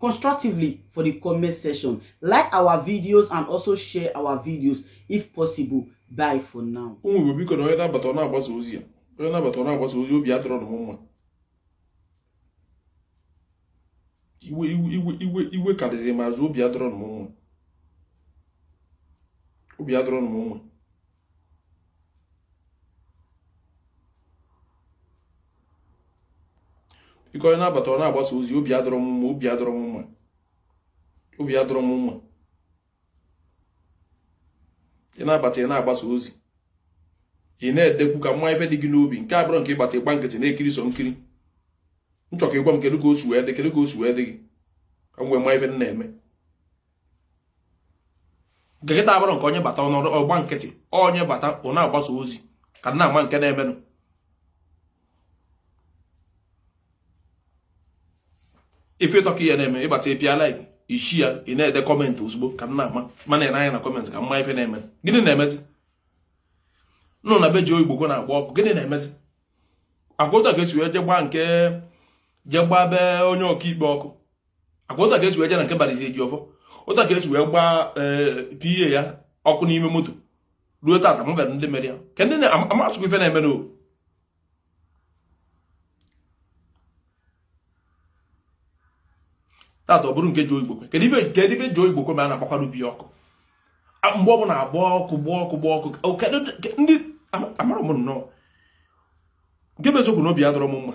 constructively for the comment section. Like our videos and also share our videos if possible. Bye for now. ụmụ Igbo biko na onye na-abata ọ na-agbasa ozi ya onye na-abata ọ na-agbasa ozi obi adịrọ m mma iwe iwe iwe iwe karịziri ma azụ obi adịrọ m mma obi adịrọ m mma biko onye na-abata ọ na-agbasa ozi obi adịrọ m mma obi adịrọ m mma obi adịrọ m mma ị na-abata ị na-agbasa ozi ị na-edekwu ka m ma ife dị gị n'obi nke a abụrọ nke ị bata ị gba nkịtị na-ekiri sọ nkiri m chọ ka ị gwa m kedu ka o si wee dị kedu ka o si wee dị gị ka m wee ma ife m na-eme nke kịta abụrọ nke onye bata ọ nọdụ ọ gba nkịtị onye bata ọ na-agbasa ozi ka m na-ama nke na-emenụ ife ịtọka ihe na-eme ị bata ị pịa like ị share ya ị na-ede comment ozugbo ka m na-ama m na-ene anya na comment ka m ma ife na-eme gịnị na-emezinụ na be Joe Igbokwe na-agba ọkụ gịnị na-emezi ọ kwa otu a ka e si wee jee gbaa nke jee gbaa be onye ọkaikpe ọkụ ọ kwa otu a ka e si wee je na nke Barrister Ejiofor otu a ka e si wee gbaa eh, PA ya ọkụ n'ime moto ruo tata m bịara ndị mere ya ka ndị amasụkwa ife na-eme n'o tata ọ bụrụ nke Joe Igbokwe kedu ife nke ife Joe Igbokwe me a na-agbakwara ubi ọkụ mgbe ọbụla agba ọkụ gba ọkụ gba ọkụ ndị amara m nnọọ nke bụ eziokwu na obi adịrọ m mma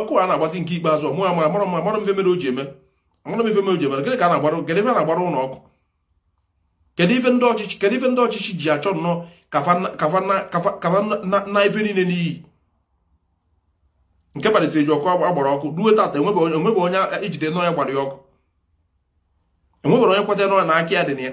ọkụ a na-agbazi nke ikpeazụ mụ amara mara m amarọ m ife mere o ji eme amarọ m ife mere o ji eme gịnị ka a na-agbara gịnị ife na-agbara ụlọ ọkụ kedu ife ndị ọchịchị kedu ife ndị ọchịchị ji achọ nnọọ ka fa naa ife niile n'iyi nke Barrister Ejiofor a gbara ọkụ ruo tata enwebe onye e jide na ọ ya gbara ya ọkụ enweberọ onye kweta nọ na aka ya dị na ya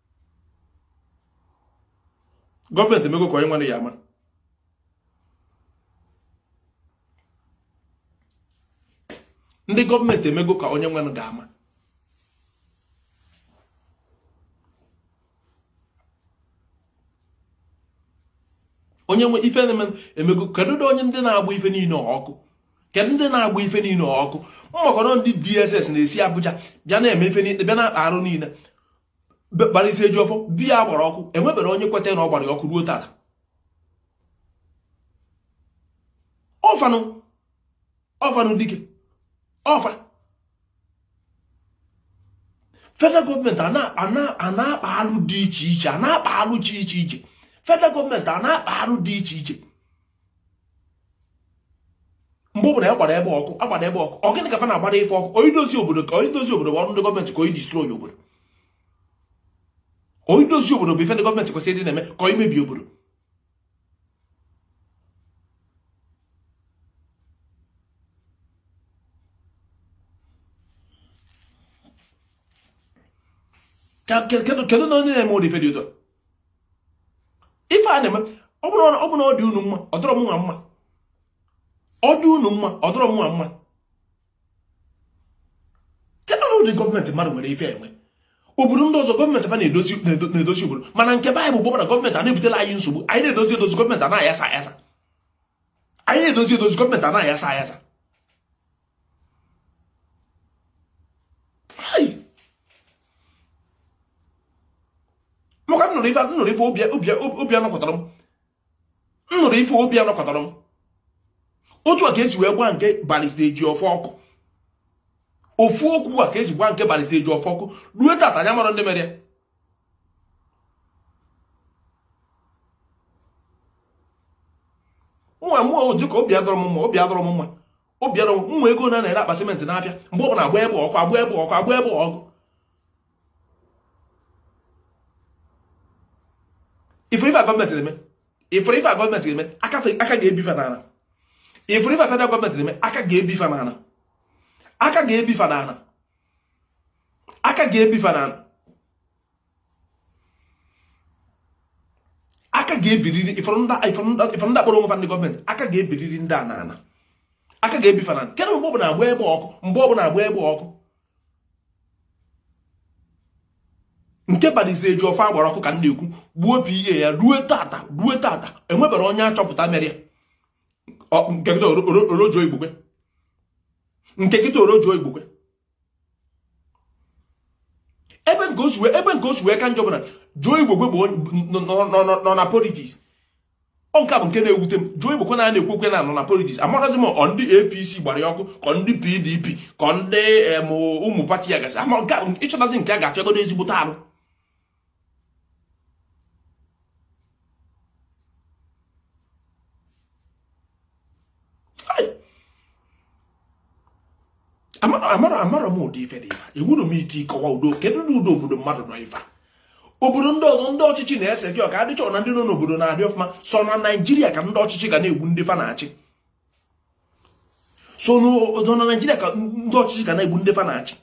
gọọmenti emego ka onye nwere ya ama ndị gọọmenti emego ka onye nwere ga-ama onye nwe ife na-eme emego kedu ụdị onye ndị na-agba ife niile ọkụ kedu ndị na-agba ife niile ọkụ ma ọ bụrọ ndị DSS na-esi Abuja bịa na-eme ife niile bịa na-akpa arụ niile Barrister Ejiofor be ya a gbara ọkụ enweberọ onye kweta na ọ gbara ya ọkụ ruo tata ọ fa nụ ọ fa nụ dịka ọ fa federal gọọmenti a na-akpa alụ dị iche iche a na-akpa alụ dị iche iche federal gọọmenti a na-akpa alụ dị iche iche mgbe ọbụla a gbara ebe ọkụ agbara ebe ọkụ ọ gịnị ka fa na-agbara ife ọkụ ọ idozi obodo ka ọ idozi obodo bụ ọrụ ndị gọọmenti ka ọ idistroyi obodo ọ idozi obodo bụ ife ndị gọọmenti kwesịrị ịdị na-eme ka ọ imebi obodo kedu na onye na-eme ụdị ife dị otu a ife a na-eme ọ bụrụ na ọ dị unu mma ọ dịrọ m nwa mma ọ dị unu mma ọ dịrọ m nwa mma kedụ na ụdị gọọmenti mmadụ nwere ife enwe obodo ndị ọzọ gọọmenti fa na-edozi obodo mana nke be anyị bụ na gọọmenti a na-ebutere anyị nsogbu anyị na-edozi edozi gọọmenti a na-ayasa ayasa anyị na-edozi edozi gọọmenti a na-ayasa ayasa maka m nụrụ ife m nụrụ ife obi obi anọkọtarọ m m nụrụ ife obi anọkọtarọ m otu a ka esi wee gba nke barista Ejiọfọ ọkụ ofu ọkụ a ka eji gba nke barista Ejiọfọ ọkụ ruo tata anyị amarọ ndị mere ya nwa mmụọ dịka obi adịrọ m mma obi adịrọ m mma Obiara ụmụ ego na na-ere akpa simenti n'afịa mgbe ọ bụla agba ebe ọkụ agba ebe ọkụ agba ebe ọkụ ị fụrụ ife gọọmenti na-eme ị fụrụ ife gọọmenti na-eme aka ga-ebi fa n'ana ị fụrụ ife federal gọọmenti na-eme aka ga-ebi fa n'ana aka ga-ebi fa n'ana aka ga-ebi fa n'ana aka ga-ebiriri ị fụrụ ndị kpọrọ onwe fa ndị gọọmenti aka ga-ebiriri ndị a n'ana aka ga-ebi fa n'ana kedụ mgbe ọbụla agba ebe ọkụ mgbe ọbụla agba ebe ọkụ nke barista Ejiọfọ agbara ọkụ ka m na-ekwu gbuo PA ya ruo tata ruo tata enweberọ onye achọpụta mere ya nke kịta ọ bụrụ Joe Igbokwe nke kịta ọ bụrụ Joe Igbokwe ebe nke o si ebe nke o si wee ka njọ bụ na Joe Igbokwe bụ nọ na politiks ọ nke bụ nke na-ewute m Joe Igbokwe a a na-ekwu okwu ya nọ na politiks amarọzi m ọ ndị APC gbara ya ọkụ ka ọ ndị PDP ka ọ ndị ụmụ pati ya gasị ama nke ịchọtazi nke a ga-afịagodu ezigbote arụ amarọ m ụdị ife dị ife a enwerọ m ike ịkọwa ụdị kedu na ụdị obodo mmadụ nọ i fee obodo ndị ọzọ ndị ọchịchị na-ese gị ọka adị sure na ndị nọ n'obodo na-adị ọfụma sọ na naijiria ka ndị ọchịchị ga na-egbu ndị fa na-achị so n'odo na naijiria ka ndị ọchịchị ka na-egbu ndị fa na-achị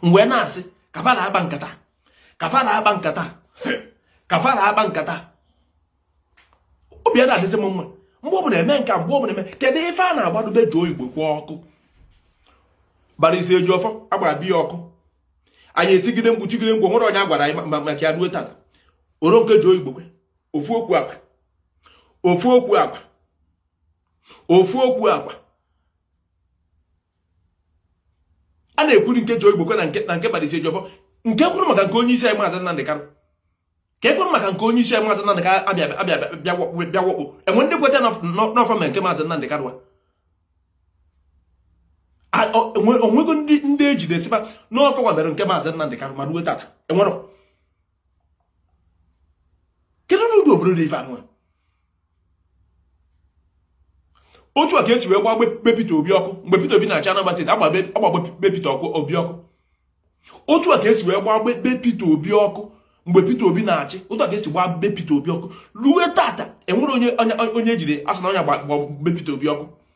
m wee na-asị kafara agba nkata kafara agba nkata kafara agba nkata obi ana adịzi m mma mgbe ọbụla eme nka mgbe ọbụla eme kedu ife a na-agbadu be Joe Igbokwe ọkụ barista Ejiofor agbara be ya ọkụ anyị etigide mkpu tigide mkpu onwerọ onye a gwara anyị maka ya ruo tata o ruo nke Joe Igbokwe ofu okwu agba ofu okwu agba ofu okwu agba a na-ekwuru nke Joe Igbokwe na nke na nke barista Ejiofor nke e kwuru maka nke onye isi anyị maazị Nnamdị Kanụ ka e kwuru maka nke onye isi anyị maazị Nnamdị Kanụ abịa abịa bịa wakpo enwere ndị kweta na ọ fa me nke maazị Nnamdị Kanụ onwego ndị ejide sịba na ọ fa mere nke maazị Nnamdị Kanụ ma ruo tata enwere kedu n'ụdị obodo dị ife a nụwa otu a ka esi wee gbaa be Peter Obi ọkụ mgbe Peter Obi na-achị Anambra steeti agbaa be Peter Obi ọkụ otu a ka esi wee gbaa be Peter Obi ọkụ mgbe Peter Obi na-achị otu a ka esi gbaa be Peter Obi ọkụ ruo tata enwerọ onye onye ejiri asị na onye gbaa be Peter Obi ọkụ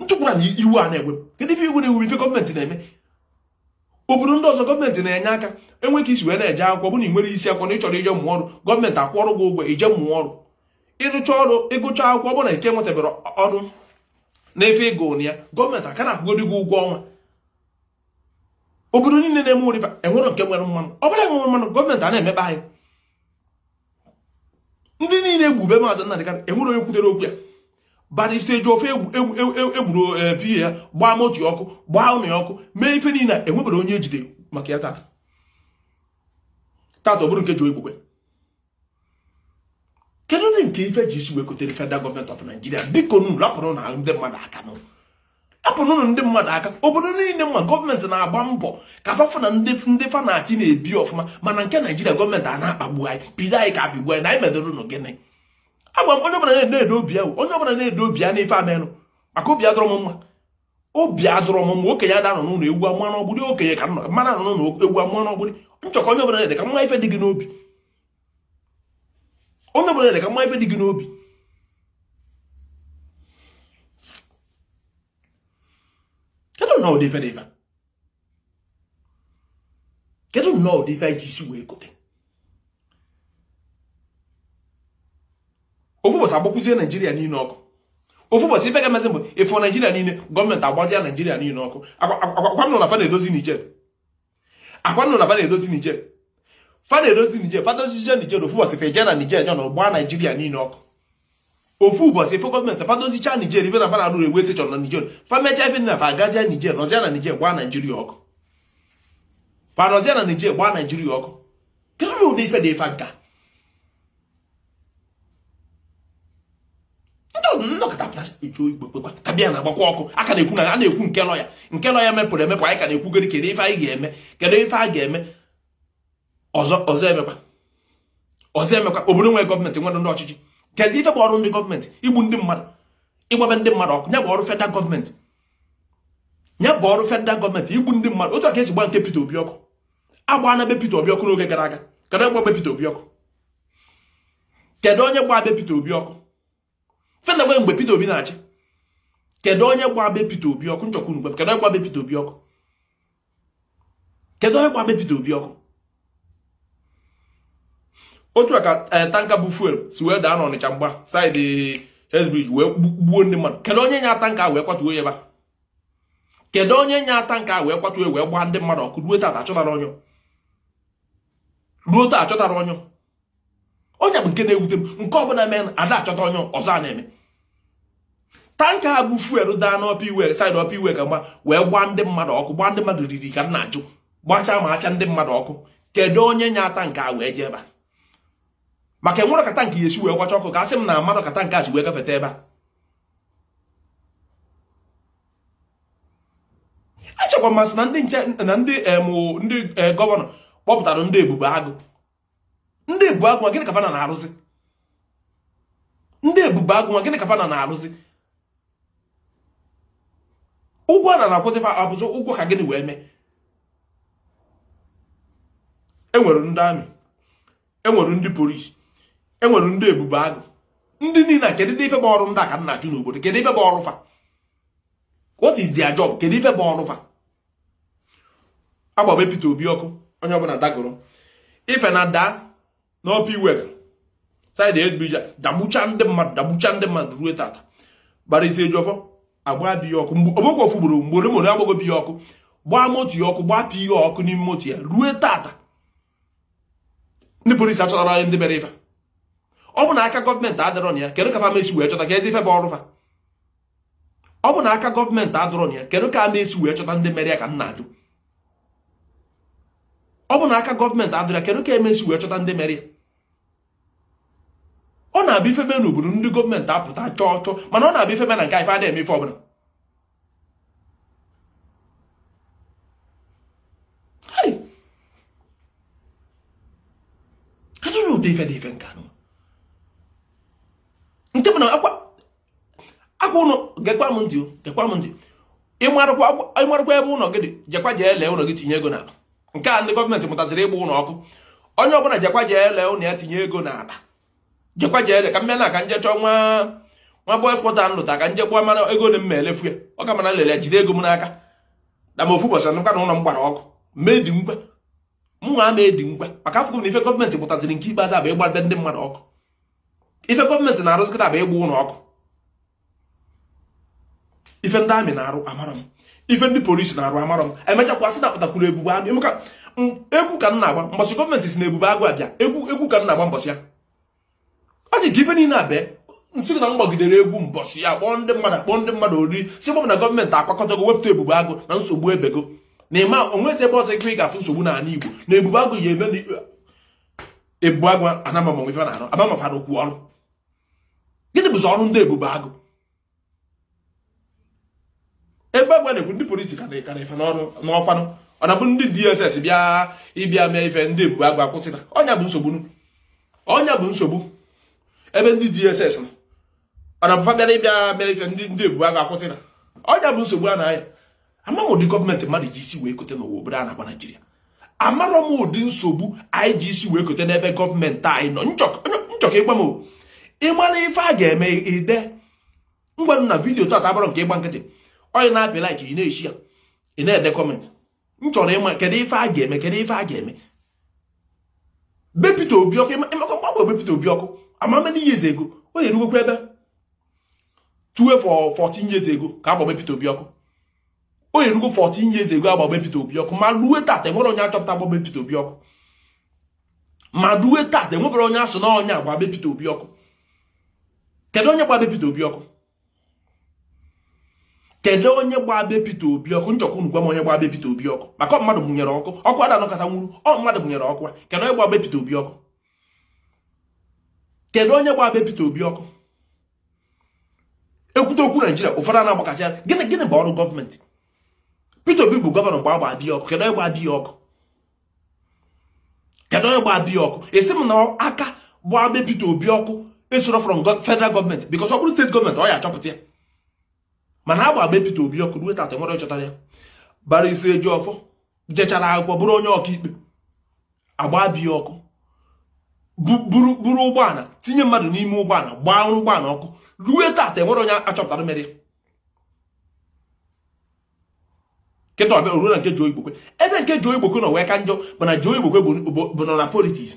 ntụkwara na iwu a na-egwe kedu ife iwu na iwu ife gọọmenti na-eme obodo ndị ọzọ gọọmenti na-enye aka enwe ka esi wee na-eje akwụkwọ bụ na ị nwerọ isi akwụkwọ na ị chọrọ ije mụọ ọrụ gọọmenti akwụọrụ gị ụgwọ ije mụọ ọrụ ịrụcha ọrụ ịgụcha akwụkwọ bụ na ị ka enwetaberọ ọrụ n'efe ego na ya gọọmenti a ka na-akwụgodi gị ụgwọ ọnwa obodo niile na-eme ụdịba enwere nke nwere mmanụ ọ bụla enwere mmanụ gọọmenti a na-emekpa anyị ndị niile egbu be maazị Nnamdi Kanu enwerọ onye kwutere okwu ya barista Ejiofor egburu eh, PA ya gbaa moto ya ọkụ gbaa ụlọ ya ọkụ mee ife niile enweberọ onye ejide maka ya tata tata ọ bụrụ nke Joe Igbokwe kedu ndị nke ife eji isi wee kotere federal gọọmenti of Nigeria biko nu rapụrụnụ ndị mmadụ aka n'ụlọ apụnụnụ ndị mmadụ aka obodo niile m ma gọọmenti na-agba mbọ ka fa fụ na ndị fa na-achị na-ebi ọfụma mana nke naijiria gọọmenti a na-akpagbu anyị bido anyị ka apịgbu anyị na anyị medoro ụnụ gịnị agwa m onye ọbụla na-edo obi ahụ onye ọbụla na-edo obi ya n'ife amenụ maka obi adịrọ m mma obi adịrọ m mma okenye ada anọ n'ụlọ ewu amụọ n'ọgbụrị okenye ka m ara anọ n'ụlọ ewu amụọ n'ọgbụrị nchọkọ onye ọbụla na-ede ka m ma ife dị gị n'obi onye ọbụla na-ede ka m ma ife dị gị n'obi kedu nnọọ ụdị ife dị ife kedu nnọọ ụdị ife anyị ji isi wee kote ofu ụbọchị agbakwuzie naijiria niile ọkụ ofu ụbọchị ife ga-emezi bụ ịfụ naijiria niile gọọmenti agbazia naijiria niile ọkụ agwa m na fa na-edozi nijer akwa nụ na fa na-edozi Niger fa na-edozi Niger fa dozizie Niger ofu ụbọchị fa eje na Niger jọ na gbaa Naijiria niile ọkụ ofu ụbọchị fo gọọmenti fa dozicha Niger ife na fa na-arụ railway station na Niger fa mechaa ife na fa agazia Niger nọzia na Niger gbaa Naijiria ọkụ fa nọzia na Niger gbaa Naijiria ọkụ kedu ụdị ife dị ife nka abịa na-agbakwa ọkụ a ka na-ekwu na a na-ekwu nke lọya nke lọya mepụrụ emepụ anyị ka na-ekwugoro kedu ife anyị ga-eme kedu ife a ga-eme ọzọ ọzọ emekwa ọzọ emekwa obodo nwere gọọmenti nwere ndị ọchịchị kedu ife bụ ọrụ ndị gọọmenti igbu ndị mmadụ ịgba be ndị mmadụ ọkụ ya bụ ọrụ federal gọọmenti ya bụ ọrụ federal gọọmenti igbu ndị mmadụ otu a ka e si gba nke Peter Obi ọkụ agbana be Peter Obi ọkụ n'oge gara aga kedu onye gba be Peter Obi ọkụ kedu onye gba be Peter Obi ọkụ fena gbe mgbe Peter Obi na-achị kedu onye gba be Peter Obi ọkụ nchọkwu unu kedu onye gba be Peter Obi ọkụ kedu onye gba be Peter Obi ọkụ otu a ka eh, tanka bu fuel si wee daa n'Ọnịcha mgba saịdị Head Bridge wee gbuo ndị mmadụ kedu onye nya tanka wee kwatuo ya ebe a kedu onye nya tanka a wee kwatuo wee gbaa ndị mmadụ ọkụ ruo taa achọtarọ onye ruo taa achọtarọ onye onye bụ nke na-ewute m nke ọbụla mee ada achọta onye ọzọ a na-eme tanka bu fuel daa n'Upper Iwe saịdị Upper Iweka gba wee gbaa ndị mmadụ ọkụ gbaa ndị mmadụ riri ka m na-ajụ gbachaa ma acha ndị mmadụ ọkụ kedu onye nya tanka a wee jee ebe a maka enwerọ ka tanka ya-esi wee gbacha ọkụ ka a sị m na amarọ ka tanka a si wee gafeta ebe a echekwa m asị na ndị nche na ndị ndị e, gọvanọ kpọpụtara ndị ebube agụ ndị ebube agụ gịnị ka fa na na-arụzi ndị ebube agụ gịnị ka fa na na-arụzi ụgwọ a na-akwụzi fa ọ bụzi ụgwọ ka gịnị wee mee enwere ndị army enwere ndị polisi enwere ndị ebube agụ ndị niile a kedu ife bụ ọrụ ndị a ka m na-ajụ n'obodo kedu ife bụ ọrụ fa what is their job kedu ife bụ ọrụ fa agba be Peter Obi ọkụ onye ọbụla dagoro ife na daa n'Upper Iweka saịdị Head Bridge a dagbucha ndị mmadụ dagbucha ndị mmadụ ruo tata Barrister Ejiofor agba be ya ọkụ ọgbakwa ofu ugboro mgbe ole mgbe agbago be ya ọkụ gbaa moto ya ọkụ gbaa PA ya ọkụ n'ime moto ya ruo tata ndị polisi achọtarọ anyị ndị mere ife ọ bụ na aka gọọmenti adịrọ na ya kedu ka fa ma-esi wee chọta kezi ife bụ ọrụ fa ọ bụ na aka gọọmenti adịrọ na ya kedu ka a ma-esi wee chọta ndị mere ya ka m na-ajụ ọ bụ na aka gọọmenti adịrọ ya kedu ka a ma-esi wee chọta ndị mere ya ọ na-abịa ife mee n'obodo ndị gọọmenti apụta chọọ chọọ mana ọ na-abịa ife mee na nke fa adịghị eme ife ọbụla ụdị ife dị ife nke anụ nke bụ na akwa ụnọ gekwa m ntị gekwa m ntị ị marụkwa ebe ụnọ gị dị jekwa jee lee ụnọ gị tinye ego n'akpa nke a ndị gọọmenti mụtaziri ịgba ụnọ ọkụ onye ọbụla jekwa jee lee ụnọ ya tinye ego n'akpa jekwa jee lee ka m bịa na ka nje chọọ nwa nwa boys quarter m lụta ka nje gwa mara ego ole m ma elefu ya ọ ka mma na lele jide ego m n'aka na m ofu ụbọchị nụkwa na ụnọ m gbara ọkụ ma edinwukwa mụnwa ama edinwukwa maka afụgo m na ife gọọmenti mụtaziri nke ikpeazụ a bụ ịgba be ndị mmadụ ọkụ ife gọọmenti na-arụzi kịta bụ ịgba ụnọ ọkụ ife ndị amị na-arụ amarọ m ife ndị polisi na-arụ amarọ m e mechakwa sị na e wepụtakwuru ebube agụ emeka egwu ka m na-agba mbọsị gọọmenti si na ebube agụ abịa egwu egwu ka m na-agba mbọsị ya ọ dị ka ife niile abịa m sị na m gbagidere egwu mbọsị ya kpọọ ndị mmadụ kpọọ ndị mmadụ oriri si gbọbụ na gọọmenti akwakọtago wepụta ebube agụ na nsogbu ebego na ị ma enwezi ebe ọzọ ị ga-afụ nsogbu n'ala igbo na ebube agụ ya-eme na ebube agụ amarọ m ife na-arụ amamafara okwu ọrụ gịnị bụzi ọrụ ndị ebube agụ ebe agwa na-ekwu ndị polisi ka na-eka na-efe n'ọrụ ọ kwanụ ọ na-abụ ndị DSS bịa ịbịa mee ife ndị ebube agụ akwụsị na onye bụ nsogbu onye bụ nsogbu ebe ndị DSS nọ ọ na-abụ fa bịara ịbịa mee ife ndị ndị ebube agụ akwụsị na onye bụ nsogbu a na-aya amarọ m ụdị gọọmenti mmadụ ji isi wee kote na nwa obodo a na-akpọ naijiria amarọ m ụdị nsogbu anyị ji isi wee kote n'ebe gọọmenti anyị nọ m chọ ka ị gwa m ị mara ife a ga-eme ide ngwa na vidiyo tata abụrọ nke ịgba nkịtị onye na-apị like ị na-eshare ya ị na-ede comment m chọrọ ịma kedu ife a ga-eme kedu ife a ga-eme be Peter Obi ọkụ ị makwa mgbe a gba be Peter Obi ọkụ how many years ago ọ ya-erugokwa ebe 12 or 14 years ago ka a gba be Peter Obi ọkụ ọ ya-erugo 14 years ago a gba be Peter Obi ọkụ ma ruo tata enwerọ onye a chọpụta gba be Peter Obi ọkụ ma ruo tata enweberọ onye a sị na onye a gba be Peter Obi ọkụ kedu onye gba be Peter Obi ọkụ kedu onye gbaa be Peter Obi ọkụ m chọ ka unu gwa m onye gbaa be Peter Obi ọkụ maka mmadụ mụnyere ọkụ ọkụ ada anọkata nwuru ọ mmadụ mụnyere ọkụ kedu onye gbaa be Peter Obi ọkụ kedu onye gbaa be Peter Obi ọkụ e kwute okwu Naijiria ụfọdụ a na-agbakasị ya gịnị gịnị bụ ọrụ gọọmenti Peter Obi bụ gọvanọ mgbe a gba be ya ọkụ kedu onye gbaa be ya ọkụ kedu onye gbaa be ya ọkụ ị sị m na aka gbaa be Peter Obi ọkụ esirọ from federal gọọmenti bikos ọ bụrụ steeti gọọmenti ọ ya achọpụta ya mana a gbaa be Peter Obi ọkụ ruo tata nwere chọtara ya barrister Ejiofor jechara akwụkwọ bụrụ onye ọkaikpe agbaa be ya ọkụ buru ụgbọala tinye mmadụ n'ime ụgbọala gbaa ụgbọala ọkụ ruo tata enwere onye achọpụtara mere kịta ọ bịa ruo na nke Joe Igbokwe ebe nke Joe Igbokwe nọ wee ka njọ bụ na Joe Igbokwe bụ nọ na politiks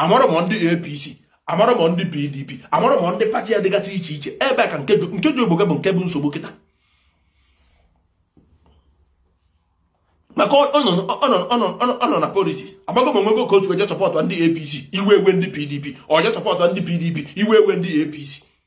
amarọ m ndị APC amarọ m ndị PDP amarọ m ndị pati ya dịgasị iche iche ebe a ka nke Joe Igbokwe bụ nke bụ nsogbu kịta maka ọ nọ na politiks agbago m onwego ka otu eje sọpọtụ ndị APC iwe ewe ndị PDP ọje sọpọtụ ndị PDP iwe ewe ndị APC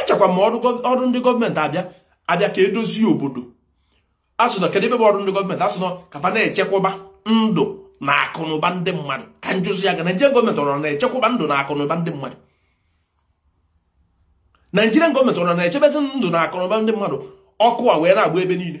echekwa m na ọrụ ndị gọọmenti bụ abịa ka edozie obodo asị na kedu ife bụ ọrụ ndị gọọmenti asị na ka fa na-echekwaba ndụ na akụnụba ndị mmadụ ka m jụzi ya ga Naijiria gọọmenti ọrụ na-echekwaba ndụ na akụnụba ndị mmadụ Naijiria gọọmenti ọrụ na-echebezi ndụ na akụnụba ndị mmadụ ọkụ a wee na-agba ebe niile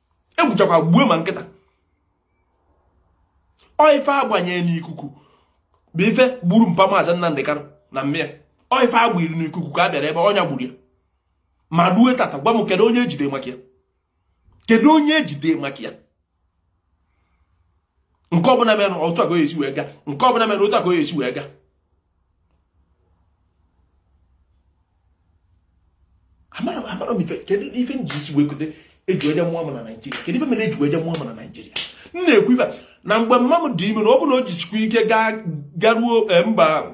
egbuchakwa gbuo ma nkịta ọ ife agbanyere n'ikuku bụ ife gburu mpa maazị Nnamdị Kanụ na mma ya ọ ife agbanyere n'ikuku ka a bịara ebe ọ nya gburu ya ma rue tata gwa m kedu onye ejide maka ya kedu onye ejide maka ya nke ọbụla mere otu aka esi wee ga nke ọbụla mere otu aka esi wee ga amarọ m ife kedu ife m ji isi wee kote eji eje mụọ m na naijiria kedu ife mere eji wee je mụọ m na naijiria m na-ekwu ife na mgbe mma m dị ime na ọ bụrụ na o jisikwa ike garuo eh, mba ahụ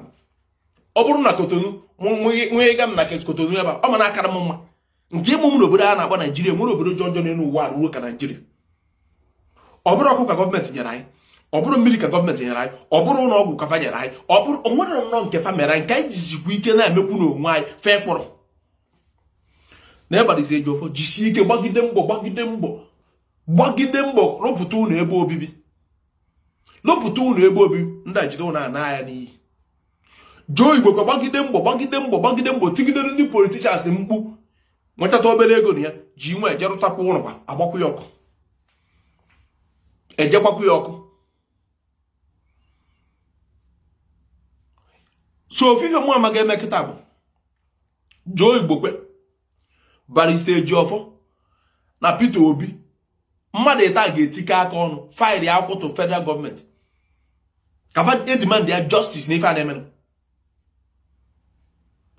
ọ bụrụ na kotonu nwegịga m na kotonu ebe ọ ma na-akara m mma nke ịmụ m n'obodo a na-akpọ naijiria onwere obodo jọ njọ n'elu ụwa ruo ka naijiria ọ bụrụ ọkụ ka gọọmenti nyere anyị ọ bụrụ mmiri ka gọọmenti nyere anyị ọ bụrụ ụlọ ọgwụ ka fa nyere anyị ọ bụrụ onwere nnọọ nke fa mere anyị nke anyị jizikwa ike na-emekwu n'onwe anyị fee kpọrọ na barrister Ejiofor jisie ike gbagide mbọ gbagide mbọ gbagide mbọ rụpụta ụlọ ebe obibi rụpụta ụlọ ebe obibi ndị a jide ụlọ a naa ya n'iyi Joe Igbokwe gbagide mbọ gbagide mbọ gbagide mbọ tigidere ndị politicians mkpu nwetata obere ego na ya ji wee je rụtakwa ụlọ agbakwa ya ọkụ eje gbakwa ya ọkụ so ofu ife mụ amaghị eme kịta bụ Joe Igbokwe Barrister Ejiofor na Peter Obi mmadụ ịtọ a ga-etikọ aka ọnụ faịlị akwụkwọ to federal gọọmenti ka fa demandịa justice na ife a na-emenụ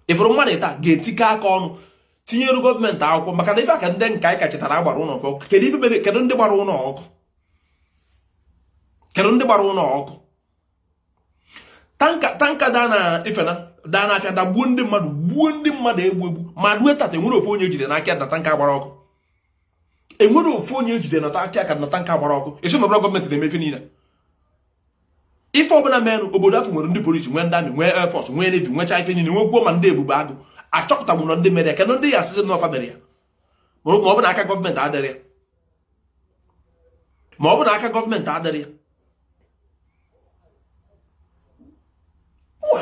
ị fụrụ mmadụ ịtọ a ga-etikọ aka ọnụ tinyere gọọmenti akwụkwọ maka na ife a ka ndị nke anyị kachetara agbara ụlọ ọkụ kedu ife mere kedu ndị gbara ụlọ ọkụ kedu ndị gbara ụlọ ọkụ tanka tanka daa na ifena daa n'afịa dagbuo ndị mmadụ gbuo ndị mmadụ egbu egbu ma rue tata enwerọ ofu onye ejide n'aka na tanka gbara ọkụ enwerọ ofu onye ejide na aka ka na tanka gbara ọkụ a sị na ọ bụ na gọọmenti na-eme ife niile ife ọbụla merụ obodo a fa nwere ndị polisi nwee ndị amị nwee airfọs nwee nevi nwecha ife niile nwegwuo ma ndị ebube agụ achọpụtagbu na ndị mere ya kedụ ndị ya asịsị na ọ fa mere ya ma ọ bụ na aka gọọmenti adịrọ ya ma ọ bụ na aka gọọmenti adịrọ ya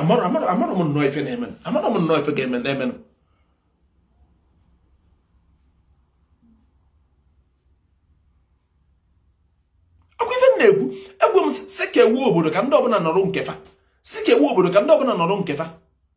amarọ amarọ amarọ m nnọọ ife na-eme amarọ m nnọọ ife ga-eme na-eme akwa ife na-ekwu ekwu m sị kewaa obodo ka ndị ọbụla nọrọ nke fa sị kewaa obodo ka ndị ọbụla nọrọ nke fa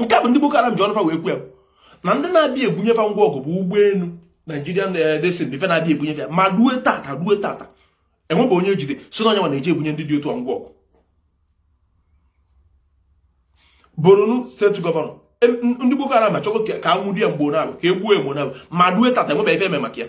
nke a bụ ndị Boko Haram ji ọnụ fa wee kwuo na ndị na-abịa ebunye fa ngwa ọgụ bụ ụgbọelu Nigerian Airlines ife na-abịa ebunye fa ya ma ruo tata ruo tata enwebe onye ejide sị na onye na-eji ebunye ndị dị otu a ngwa ọgụ Borno steeti gọvanọ ndị Boko Haram achọgo ka anwụde ya mgbe na ka e gbuo egbu na ma ruo tata enwebe ife eme maka ya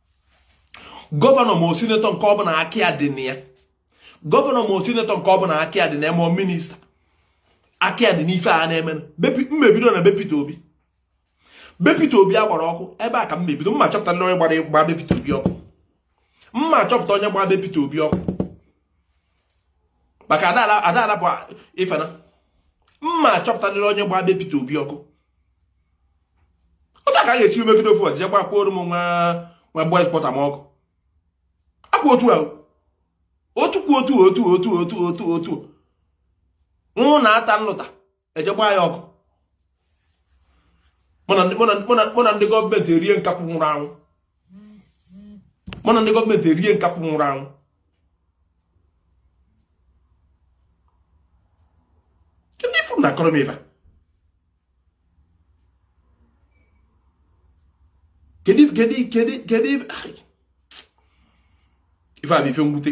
gọvanọ ma ọ sinetọ nke ọ bụla aka ya dị na ya gọvanọ ma ọ sinetọ nke ọ bụla aka ya dị na ya ma minista aka ya dị n'ife a na-eme m ma-ebido na be Peter Obi be Peter Obi a gbara ọkụ ebe a ka m ma-ebido m ma-achọpụta onye gbara gbaa be Peter Obi ọkụ m ma-achọpụta onye gbaa be Peter Obi ọkụ maka adaala bụ ifena m ma-achọpụtarịrị onye gba be Peter Obi ọkụ otu a ka a ga-esi megide ofu ọzọ gba kwuoro m nwa nwa boys pọta m ọkụ akpụ otu ahụ otu kwu otu otu otu otu otu otu nwụ na ata nlụta e je gbaa ya ọkụ mụ na ndị gọọmenti erie nkakwụ nwụrụ anwụ mụ na ndị gọọmenti erie nkakwụ nwụrụ anwụ kedu ife ụnụ na-akọrọ m ife kedu kedu kedu kedu ife a bụ ife mwute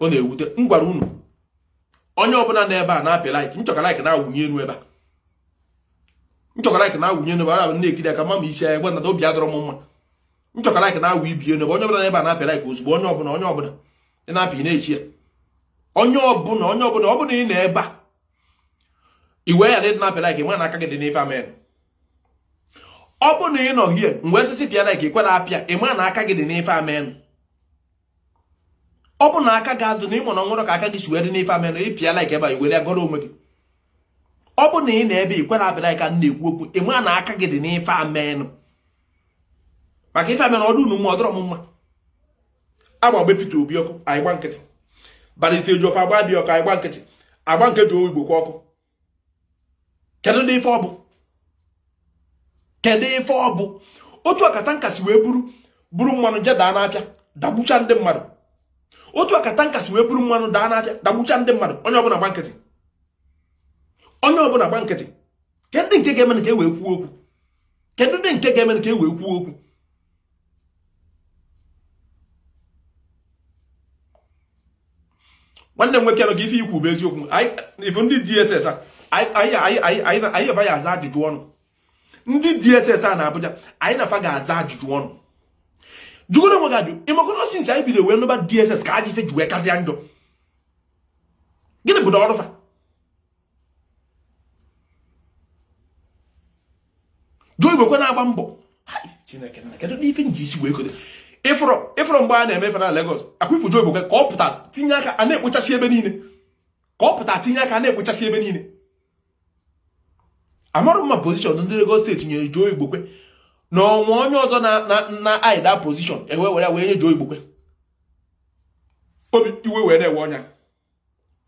ọ na-ewute m gwara unu onye ọbụla nọ ebe a na-apị like m chọ ka like na-awụnye elu ebe a m chọ ka like na-awụnye elu ebe a na-ekiri aka ma ma isi anya gwa na obi adịrọ m mma m chọ ka like na-awụnye elu ebe onye ọbụla n'ebe a na-apị like ozugbo onye ọbụla onye ọbụla ị na-apị na-echi ya onye ọbụla onye ọbụla ọ bụ na ị nọ ebe a iwe ya na ịdị na-apị like m ma na aka gị dị n'ife a menụ ọ bụ na ị nọ here m wee sị ị pịa like i kwerọ apịa m ma na aka gị dị n'ife menụ ọ bụ na aka gị adị n'ime o nwerọ ka aka gị si wee dị n'ife a menụ ị pịa like ebe a i wee gọrọ onwe gị ọ bụ na ị nọ ebe a i kwerọ apịa like m na-ekwu okwu m ma na aka gị dị n'ife a menụ maka ife a menụ ọ dị unu mma ọ dịrọ m mma agba be Peter Obi ọkụ anyị gba nkịtị Barrister Ejiofor agba be ya ọkụ anyị gba nkịtị agba nke Joe Igbokwe ọkụ kedudi ife ọ bụ kedu ife ọ bụ otu a ka tanka si wee buru buru mmanụ je daa n'afịa dagbucha ndị mmadụ otu a ka tanka si wee buru mmanụ daa n'afịa dagbucha ndị mmadụ onye ọbụla gba nkịtị onye ọbụla gba nkịtị kedụdị nke ga-eme ka e wee kwuo okwu kedụdị nke ga-eme ka e wee kwuo okwu nwanne m nwoke nọ gị ife i kwu bụ eziokwu ị fụ ndị DSS anyị na fa ga-aza ajụjụ ọnụ ndị DSS na Abuja anyị na fa ga-aza ajụjụ ọnụ jụgoro onwe gị ajụjụ ị makwa na since anyị bido wee nụba DSS ka ajọ ife ji wee kazịa njọ gịnị bụdị ọrụ fa Joe Igbokwe na-agba mbọ Chineke na kedu ife m ji isi wee kodo ị fụrụ mgbe a na-eme ife na Lagos ọkwa ị fụ Joe Igbokwe ka ọ pụta tinye aka a na-ekpochasị ebe niile ka ọ pụta tinye aka a na-ekpochasị ebe niile amarọ m ma position ndị Lagos State nyere Joe Igbokwe na o nwe onye ọzọ nọ na that position e wee were wee nye Joe Igbokwe obi iwe wee na-ewe onye a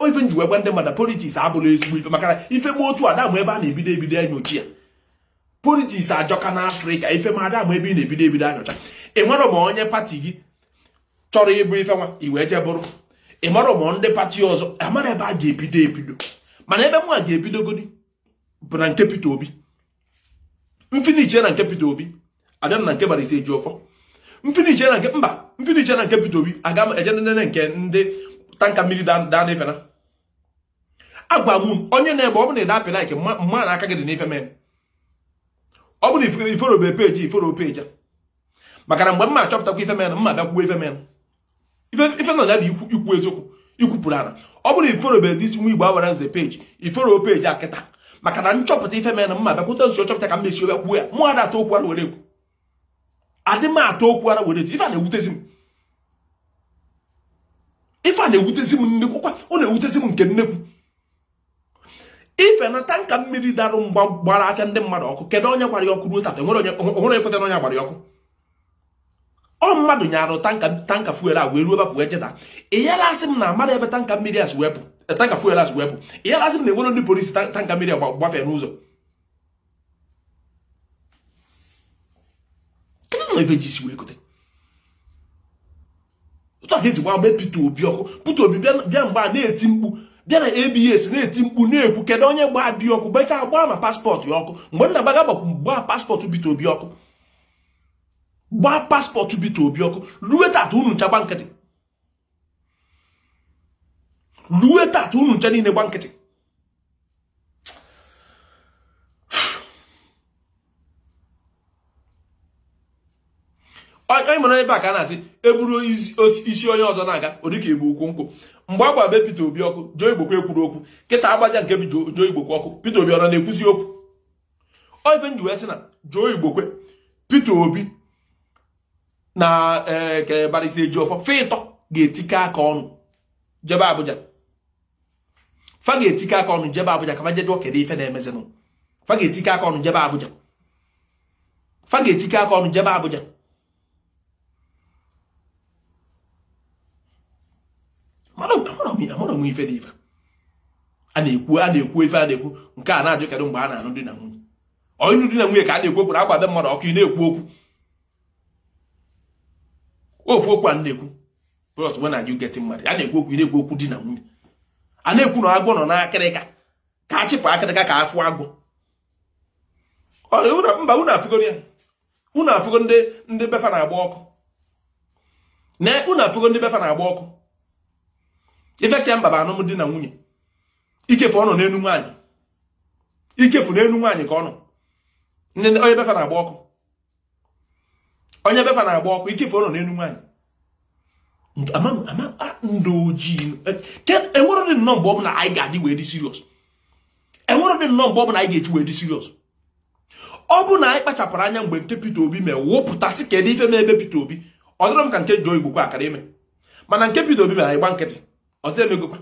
ife m ji wee gwa ndị mmadụ politiks abụrọ ezigbo ife maka na ife mee otu a a da-ama ebe a na-ebido ebido enyocha ya politiks ajọka na afrịka ife mee a da-ama ebe a na-ebido ebido enyocha ị marọ ma onye pati gị chọrọ ịbụ ife nwa i wee jee bụrụ ị marọ ma ndị pati ọzọ amarọ ebe a ga-ebido ebido mana ebe mụwa ga-ebidogodi bụ na nke Peter Obi m finishie na nke Peter Obi abịa m na nke Barrister Ejiofor m finishie na nke mba m finishie na nke Peter Obi aga m eje nene nke ndị tanka mmiri daanụ ife m na-agwa unu onye nọ ebe a ọ bụ na ị da-apị like m ma na aka gị dị n'ife menụ ọ bụ na ị followbe page ị follow page maka na mgbe m ma-achọpụtakwa ife menụ m ma-abịa kwuo ife menụ ife nọ ya dị ikwu eziokwu ikwupụrụ ara ọ bụrụ i followbere dị isi nwa igbo awara nze page i follow page a kịta maka na m chọpụta ife mere na mma bịakwute nso chọpụta ka m mesi obe kwuo ya mụ ada atọ okwu ara were ekwu adị m atọ okwu ara were ekwu ife a na-ewutezi m ife a na-ewutezi m nnekwu kwa ọ na-ewutezi m nke nnekwu ife na tanka mmiri darụ mgbe a gbara afịa ndị mmadụ ọkụ kedu onye gbara ya ọkụ ruo tata onwere onye kwutere onye gbara ya ọkụ ọ mmadụ nyarụ tanka tanka fuel a wee ruo ebe afụ wee jee daa ị yara asị m na amara ebe tanka mmiri a si wee pụ tanka fuel a si wee pụ ị yara asị m na enwere ndị polisi tanka mmiri a gbafee n'ụzọ kedu na ebe ji isi wee gote ụtọ ka esi gbaa be Peter Obi ọkụ Peter Obi bịa mgbe a na-eti mkpu bịa na ABS na-eti mkpu na-ekwu kedu onye gbaa be ya ọkụ gbachaa gbaa ma passport ya ọkụ mgbe nna gbaga gbakwu gbaa passport Peter Obi ọkụ gbaa passport Peter Obi ọkụ ruo tata unu ncha gba nkịtị rue tata unu ncha niile gba nkịtị onye mara ebe a ka a na-asị eburu isi onye ọzọ na-aga ọ dịka ebu ukwu nkụ mgbe a gbaa be Peter Obi ọkụ Joe Igbokwe ekwuru okwu kịta agbaja nke bụ Joe Igbokwe ọkụ Peter Obi ọ na-ekwuzi okwu ọ ife m ji wee sị na Joe Igbokwe Peter Obi na eh, ka Barrister Ejiofor fa ịtọ ga-etikọ aka ọnụ jebe Abuja fa ga-etikọ aka ọnụ jebe Abuja ka fa jee jụọ kedu ife na-emezinụ fa ga-etikọ aka ọnụ jebe Abuja fa ga-etikọ aka ọnụ jebe Abuja mana amara m ife dị ife a na-ekwu a na-ekwu ife a na-ekwu nke a na-ajụ kedu mgbe a na-anụ di na nwunye onye di na nwunye ka a na-ekwu okwu na a gbaa be mmadụ ọkụ ị na-ekwu okwu ofu okwu a na-ekwu plus when are you getting married a na-ekwu okwu na-ekwu okwu di na nwunye a na-ekwu na agwọ nọ n'akịrịka ka a chịpụ akịrịka ka afụ agwọ mba unu afụgoro ya unu afụgo ndị ndị befa na-agba ọkụ na unu afụgo ndị befa na-agba ọkụ ifecha mba bụ anụm di na nwunye ikefu ọ nọ n'elu nwaanyị ikefu n'elu nwaanyị ka ọ nọ onye befa na-agba ọkụ onye befa na-agba ọkụ ike ife ọ nọ n'elu nwaanyị ndị ojii enwere dị nnọọ mgbe ọ bụla anyị ga-eji wee dị serious enwere dị nnọọ mgbe ọ bụla anyị ga-eji wee dị serious ọ bụ na anyị kpachapụrụ anya mgbe nke Peter Obi mee wụpụta sị kedu ife mee ebe Peter Obi ọ dịrọ m ka nke Joe Igbokwe akara ime mana nke Peter Obi mere anyị gba nkịtị ọzọ emegokwa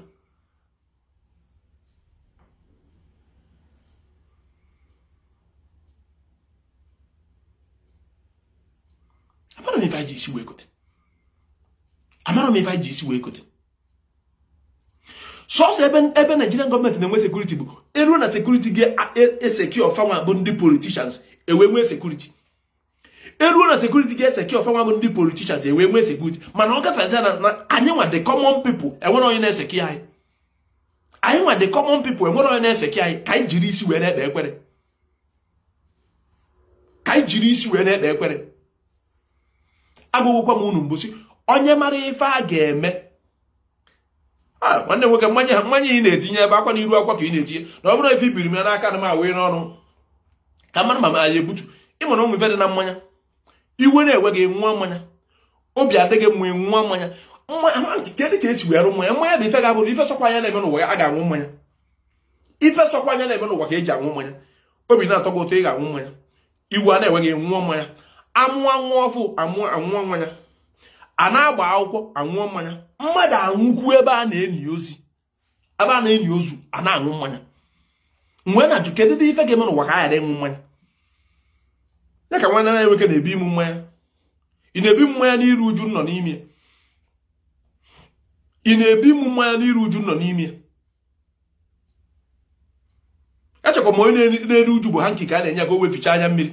amarọ m ife anyị ji isi wee kote amarọ m ife anyị ji isi wee kote sọsọ ebe ebe Nigerian gọọmenti na-enwe sekuriti bụ eruo na sekuriti ga-esekio fanwa bụ ndị politishans ewee nwee sekuriti eruo na sekuriti ga-esekio fanwa bụ ndị politishans ewee nwee sekuriti mana ọ gafezie na anyị nwa the common people enwerọ onye na-esekio anyị anyị nwa the common people enwerọ onye na-esekio anyị ka anyị jiri isi wee na-ekpe ekpere ka anyị jiri isi wee na-ekpe ekpere agwagokwa m unu mbọsị onye mara ife a ga-eme Ah, nwanne nwoke mmanya mmanya ị na-etinye ebe akwa na iru akwa ka ị na-etinye na ọ bụrụ ife ibiri m ya n'aka na m awee n'ọnụ ka mara ma anyị ebutu ịma na ụmụ ife dị na mmanya iwe na-ewe gị ṅụa mmanya obi adịghị mma ṅụa mmanya kedụ ka esi wee rụ mmanya mmanya bụ ife ga-abụrụ ife sọkwa anya na-eme n'ụwa a ga-aṅụ mmanya ife sọkwa anya na-eme n'ụwa ka eji aṅụ mmanya obi na-atọ gị ụtọ ị ga-aṅụ mmanya iwe na-ewe gị ṅụọ mmanya amụọ nwa ọfụụ aṅụọ mmanya a na-agba akwụkwọ aṅụọ mmanya mmadụ anwụkwu ebe a na-eni ozi ebe a na-eni ozu a na-aṅụ mmanya m wee na-ajụ kedu dị ife ga-eme n'ụwa ka a ghara ịṅụ mmanya ya ka nwanne m nwoke na-ebi mmanya ị na-ebi mmanya n'iru uju nọ n'ime ị na-ebi mmanya n'iru uju nọ n'ime echekwa m onye na-eru uju bụ hanki ka a na-enye ka o wee fichaa anya mmiri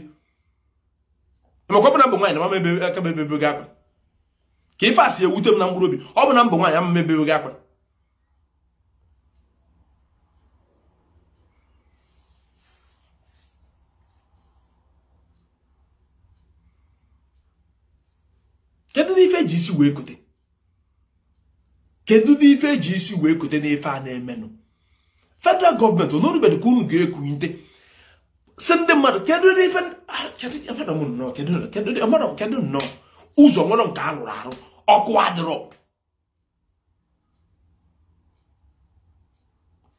ị makwa ọ bụ na m bụ nwaanyị na m ama ebe aka m ebebe akwa ka ife a si ewute m na mkpụrụ obi ọ bụ na m bụ nwaanyị ama m ebebe akwa kedu dị ife eji isi wee kote kedu dị ife eji isi wee kote n'ife a na-emenụ federal gọọmenti unu o rubedị ka unu ga-ekunite sị ndị mmadụ kedu dị ife ah, kedu nnọọ ụzọ enwerọ nke a rụrụ arụ ọkụ adịrọ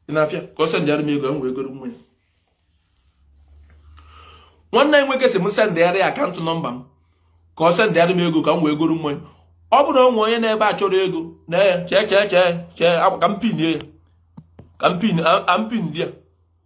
dị n'afịa ka ọ sendịara m ego m wee goro mmanya nwanne anyị nwoke sị m sendịara ya akaụntụ nọmba m ka ọ sendịara m ego ka m wee goro mmanya ọ bụrụ o nwee onye nọ ebe a chọrọ ego na ya chee chee chee chee ka m pin ya ka m pin ya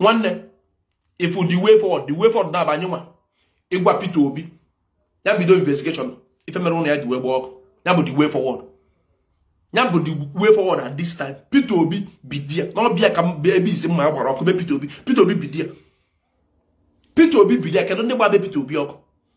nwanne ị fụ the way forward the way forward na-aba anyị nwa ịgwa Peter Obi ya bido investigeshọn ife mere ụnọ ya ji wee gba ọkụ ya bụ the way forward ya bụ the way forward at this time Peter Obi bidia n'ọbịa ka ebe isi mma gbara ọkụ be Peter Obi Peter Obi bidia Peter Obi bidia kedu ndị gba be Peter Obi ọkụ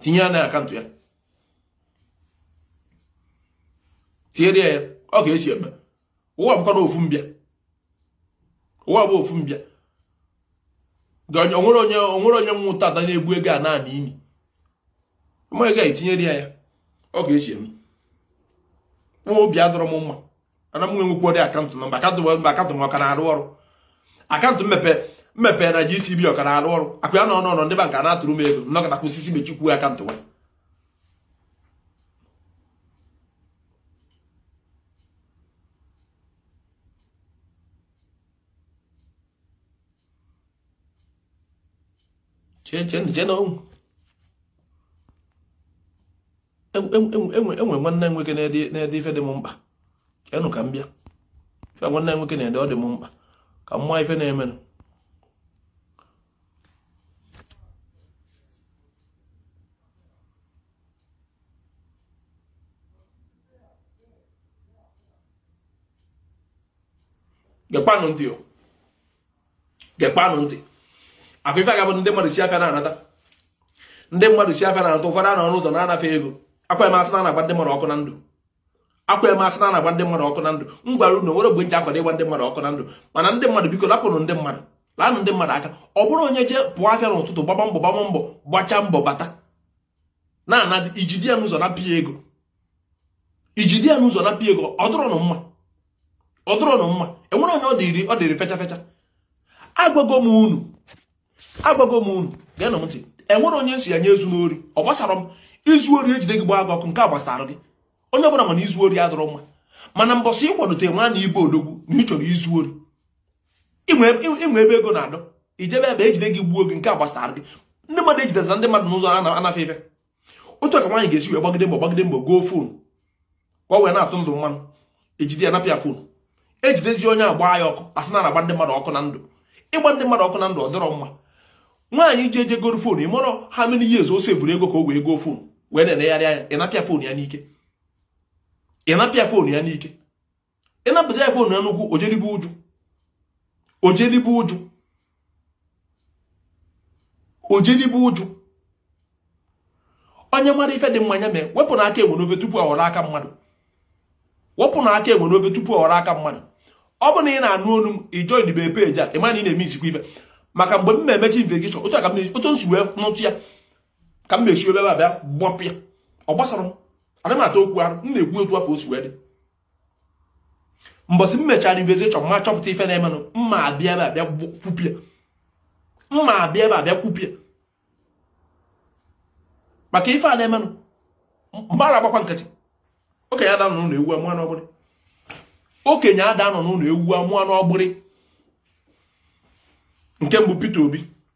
tinye ya na akaụntụ ya tinyere ya ọ ka esi eme ụwa bụkwanụ ofu mbịa ụwa bụ ofu mbịa onwere onye onwere onye nwụ taa ada na-ebu ego ana n'ime mmụọ ego a etinyere ya ya ọ ka esi eme nwa obi adịrọ m mma ana m enwekwudị akaụntụ nọmba akaụntụ mba akaụntụ m ọ ka na-arụ ọrụ akaụntụ m mepe m mepe na GTB ọ ka na-arụ ọrụ akụ ya na ọnụ ọnọ ndị banka na-atụrụ m ego nọkata kwụsịsị mechikwu akaụntụ nwa chee chee chenụ onwe ife nwanne nwoke na-ede ife dị m mkpa chenụ ka m bịa ife nwanne nwoke na-ede ọ dị m mkpa ka m maa ife na-emenụ gekwanụ ntị o gekwanụ ntị ọkwa ife a ga-abụ ndị mmadụ si afịa na-anata ndị mmadụ si afịa na-anata ụfọdụ anọ n'ụzọ na-ana fa ego ọkwa eme asị na ana-agba ndị mmadụ ọkụ na ndụ ọkwa eme asị na ana-agba ndị mmadụ ọkụ na ndụ m gwara unu nwere mgbe nji akwado ịgba ndị mmadụ ọkụ na ndụ mana ndị mmadụ biko lapụnụ ndị mmadụ laanụ ndị mmadụ aka ọ bụrụ onye jee pụọ afịa n'ụtụtụ gbaba mbọ gbaba mbọ gbachaa mbọ bata na-anazi ijide ya n'ụzọ napụ ya ego ijide ya n'ụzọ napụ ya ego ọ dịrọnụ mma ọ dịrọnụ mma enwere onye ọ dịrị ọ dịrị fecha fecha agwago m unu agwago m unu geenụ m ntị enwere onye nsị ya onye ezuna ori ọ gbasara m izu ori ejide gị gbaa gị ọkụ nke a gbasara gị onye ọbụla ma na izu ori adịrọ mma mana mbọsị ịkwadote nwa na ị bụ odogwu na ị chọrọ izu ori inwe ebe ego na-adị ijebe ebe ejide gị gbuo gị nke a gbasara gị ndị mmadụ ejidezi ndị mmadụ n'ụzọ ana fa ife otu ka nwaanyị ga-esi wee gbagide mbọ gbagide mbọ goo fon ka ọ wee na-atụ ndụ mmanụ ejide ya napụ ya fon ejidezi onye agba ya ọkụ asị na ana-agba ndị mmadụ ọkụ na ndụ ịgba ndị mmadụ ọkụ na ndụ ọ dịrọ mma nwaanyị ji eje goro fon ị marọ how many years o sevuru ego ka o wee goo fon wee na-enegharị anya ịnapụ ya fon ya n'ike ịnapụ ya fon ya n'ike ịnapụzi ya fon Enugu ojelibe ụjụ ojelibe ụjụ ojelibe ụjụ onye mara ife dị mma nya mee wepụnụ aka enwe n'ofe tupu ọ ghọrọ aka mmadụ wepụnụ aka enwe n'ofe tupu ọ ghọrọ aka mmadụ ọ bụ na ị na-anụ olu m ijoin be peji a ị ma na ị na-eme isikwa ife maka mgbe m na-emechi investigeshọn otu a ka m otu nsi wee nụta ya ka m na-esi eburu abịa gbapụ ya ọ gbasara m ana m ata okwu arụ m na-ekwu otu afụ o si wee dị mbọsị m mechara investigation ma chọpụta ife na-emenụ m ma-abịa ebe a bịa kwupịa m ma-abịa ebe a bịa kwupịa maka ife a na-emenụ m mara agbakwa nkịtị okenye ada anọ n'ụlọ ewu amụọ n'ọgbụrị okenye ada anọ n'ụlọ ewu amụọ n'ọgbụrị nke mbụ Peter Obi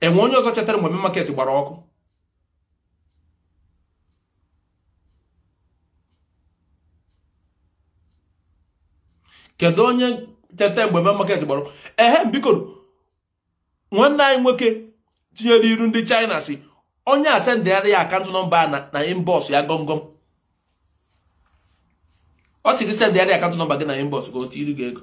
e nwe onye ọzọ chetara mgbe market gbara ọkụ kedu onye cheta mgbe main market gbara ọkụ ehe biko nwanne anyị nwoke tinyere iru ndị China sị onye a sendiara ya account number na inbox ya gọmgọm ọ sị gị sendiara account number gị na inbox ka o tiiri gị ego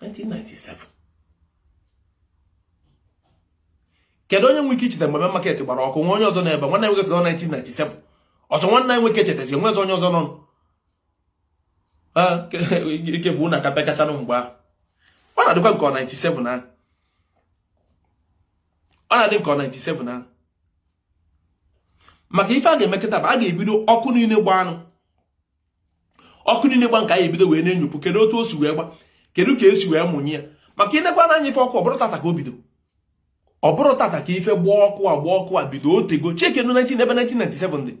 1997 kedu onye nwe ike icheta mgbe market gbara ọkụ e nwe onye ọzọ n'ebe nwanne nwoke sị 1997 ọ sọ nwanne anyị nwoke chetazi e nwe onye ọzọ nọ ka ọ bụ unu aka pekachanụ mgbe ahụ ọ na-adịkwa m ka 97 ahụ ọ na-adị m ka ọ 97 ahụ maka ife a ga-emekọta bụ a ga-ebido ọkụ niile gbanụ ọkụ niile gbanụ ka a ya-ebido wee na-enyopụ kedu otu o si wee gba kedu ka e si wee mụnye ya maka i nekwaa anya ife ọkụ ọ bụrọ tata ka o bido ọ bụrọ tata ka ife ịgba ọkụ a ịgba ọkụ a bido o tego chekenụ 19 ebe 1997 dị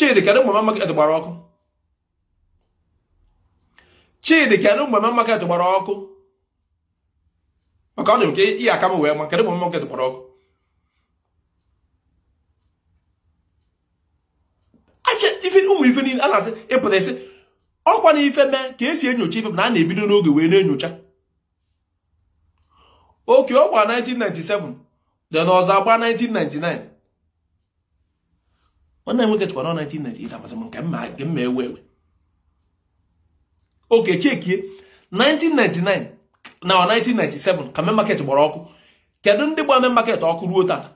Chidi kedụ mgbe main market gbara ọkụ Chidi kedụ mgbe main market gbara ọkụ maka ọ dị m ka ị ya-aka m wee ma kedụ mgbe main market gbara ọkụ ife ụmụ ife niile a na-asị ịpụta isi ọ kwanụ ife mee ka e si enyocha ife bụ na a na-ebido n'oge wee na-enyocha okay ọ gba 1997 then ọzọ agba 1999 nwanne m nwoke chekwa na 1998 amasị m nke mma nke mma ewe ewe okay chekie 1999 na 1997 ka main market gbara ọkụ kedu ndị gba main market ọkụ ruo tata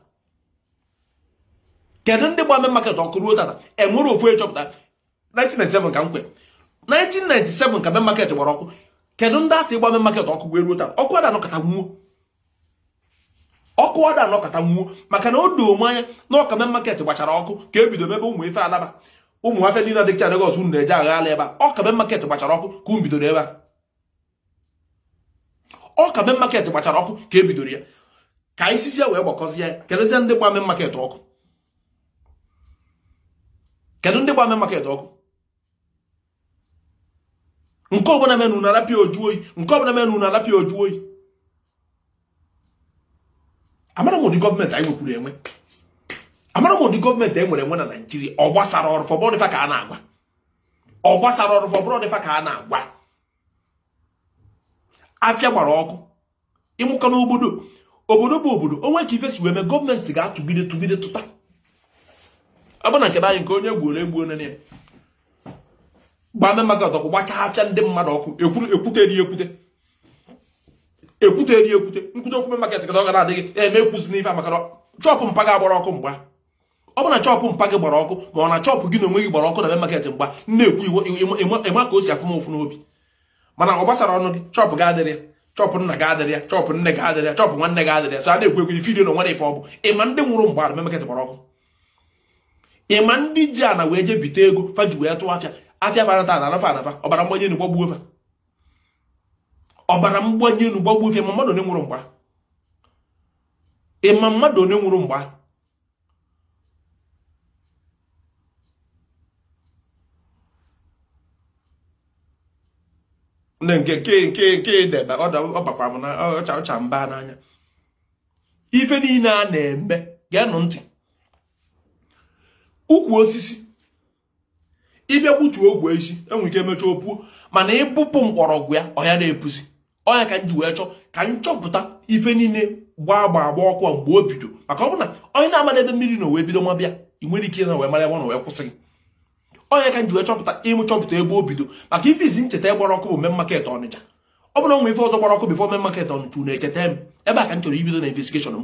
kedu ndị gba main market ọkụ ruo tata enwerọ ofu a chọpụta 1997 ka m kwe 1997 ka main market gbara ọkụ kedu ndị a sị gba main market ọkụ wee ruo tata ọkụ ada anọkata nwuo ọkụ ada anọkata nwuo maka na o doo m anya na ọ ka main market gbachara ọkụ ka e bido mebe ụmụ ife Alaba ụmụ afịa niile a dịcha Lagos unu na-eje agha ala ebe a ọ ka main market gbachara ọkụ ka unu bidoro ebe a ọ ka main market gbachara ọkụ ka e bidoro ya ka anyị sizie wee gbakọzie keduzi ndị gba main market ọkụ kedu ndị gba main market ọkụ nke ọbụla menụ na a rapụ ya o juo oyi nke ọbụla menụ na a rapụ ya o juo oyi amarọ m ụdị gọọmenti anyị nwekwuru enwe amarọ m ụdị gọọmenti e nwere enwe na naijiria ọ gbasarọ ọrụ fa ọ bụrọ ndị fa ka a na-agwa ọ gbasarọ ọrụ fa ọ bụrọ ndị fa ka a na-agwa afịa gbara ọkụ ịmụkọ n'obodo obodo bụ obodo o nwee ka ife si wee mee gọọmenti ga-atụgide tụgide tụta ọ bụ na nke anyị nke onye gbuoro egbuo nene ya gbaa main market ọkụ gbachaa afịa ndị mmadụ ọkụ ekwute eri ekwute ekwute eri ekwute m kwute okwu main market ka ọ gara adịghị eme ekwuzi n'ife maka shop mpa gị agbarọ ọkụ mgbe ahụ ọ bụ na shop mpa gị gbara ọkụ ma ọ na shop gị na onwe gị gbara ọkụ na main market mgbe ahụ na-ekwu iwu ị ma ka o si afụ m ụfụ n'obi mana ọ gbasarọnụ gị shop gị adịrọ ya shop nna gị adịrọ ya shop nne gị adịrọ ya shop nwanne gị adịrọ ya so a na-ekwu ekwu ifidio na o nwere ife ọ bụ ị ma ndị nwụrụ mgbe main market gbara ọkụ ị ma ndị ji ana wee jee bite ego fa ji wee tụọ afịa afịa fara taa anafa anafa ọbara mgbani enu gbagbuo fa ọbara mgbani enu gbagbuo fa ị ma mmadụ one nwụrụ mgbe ahụ ị ma mmadụ one nwụrụ mgbe ahụ nne nke nke nke nke debe ọ bakwa m na ọcha ọcha mba n'anya ife niile a na-eme geenụ ntị ukwu osisi ị bịa gbutuo ogwe isi e nwere ike emechaa o puo mana ị bọpụ mgbọrọgwụ ya ọ ya na-epuzi ọ ya ka m ji wee chọọ ka m chọpụta ife niile gbaa agba agba ọkụ a mgbe o bido maka ọ bụ na onye na-ama ebe mmiri nọ wee bido maba ya enwerọ ike na wee mara ebe ọ nọ wee kwụsị ya ọ ya ka m ji wee chọpụta ịmụ chọpụta ebe o bido maka ife izizi m cheta gbara ọkụ bụ main market ọnịcha ọ bụrụ na e nwe ife ọzọ gbara ọkụ before main market ọnịcha echetarọ m ebe a ka m chọrọ ibido na investigation m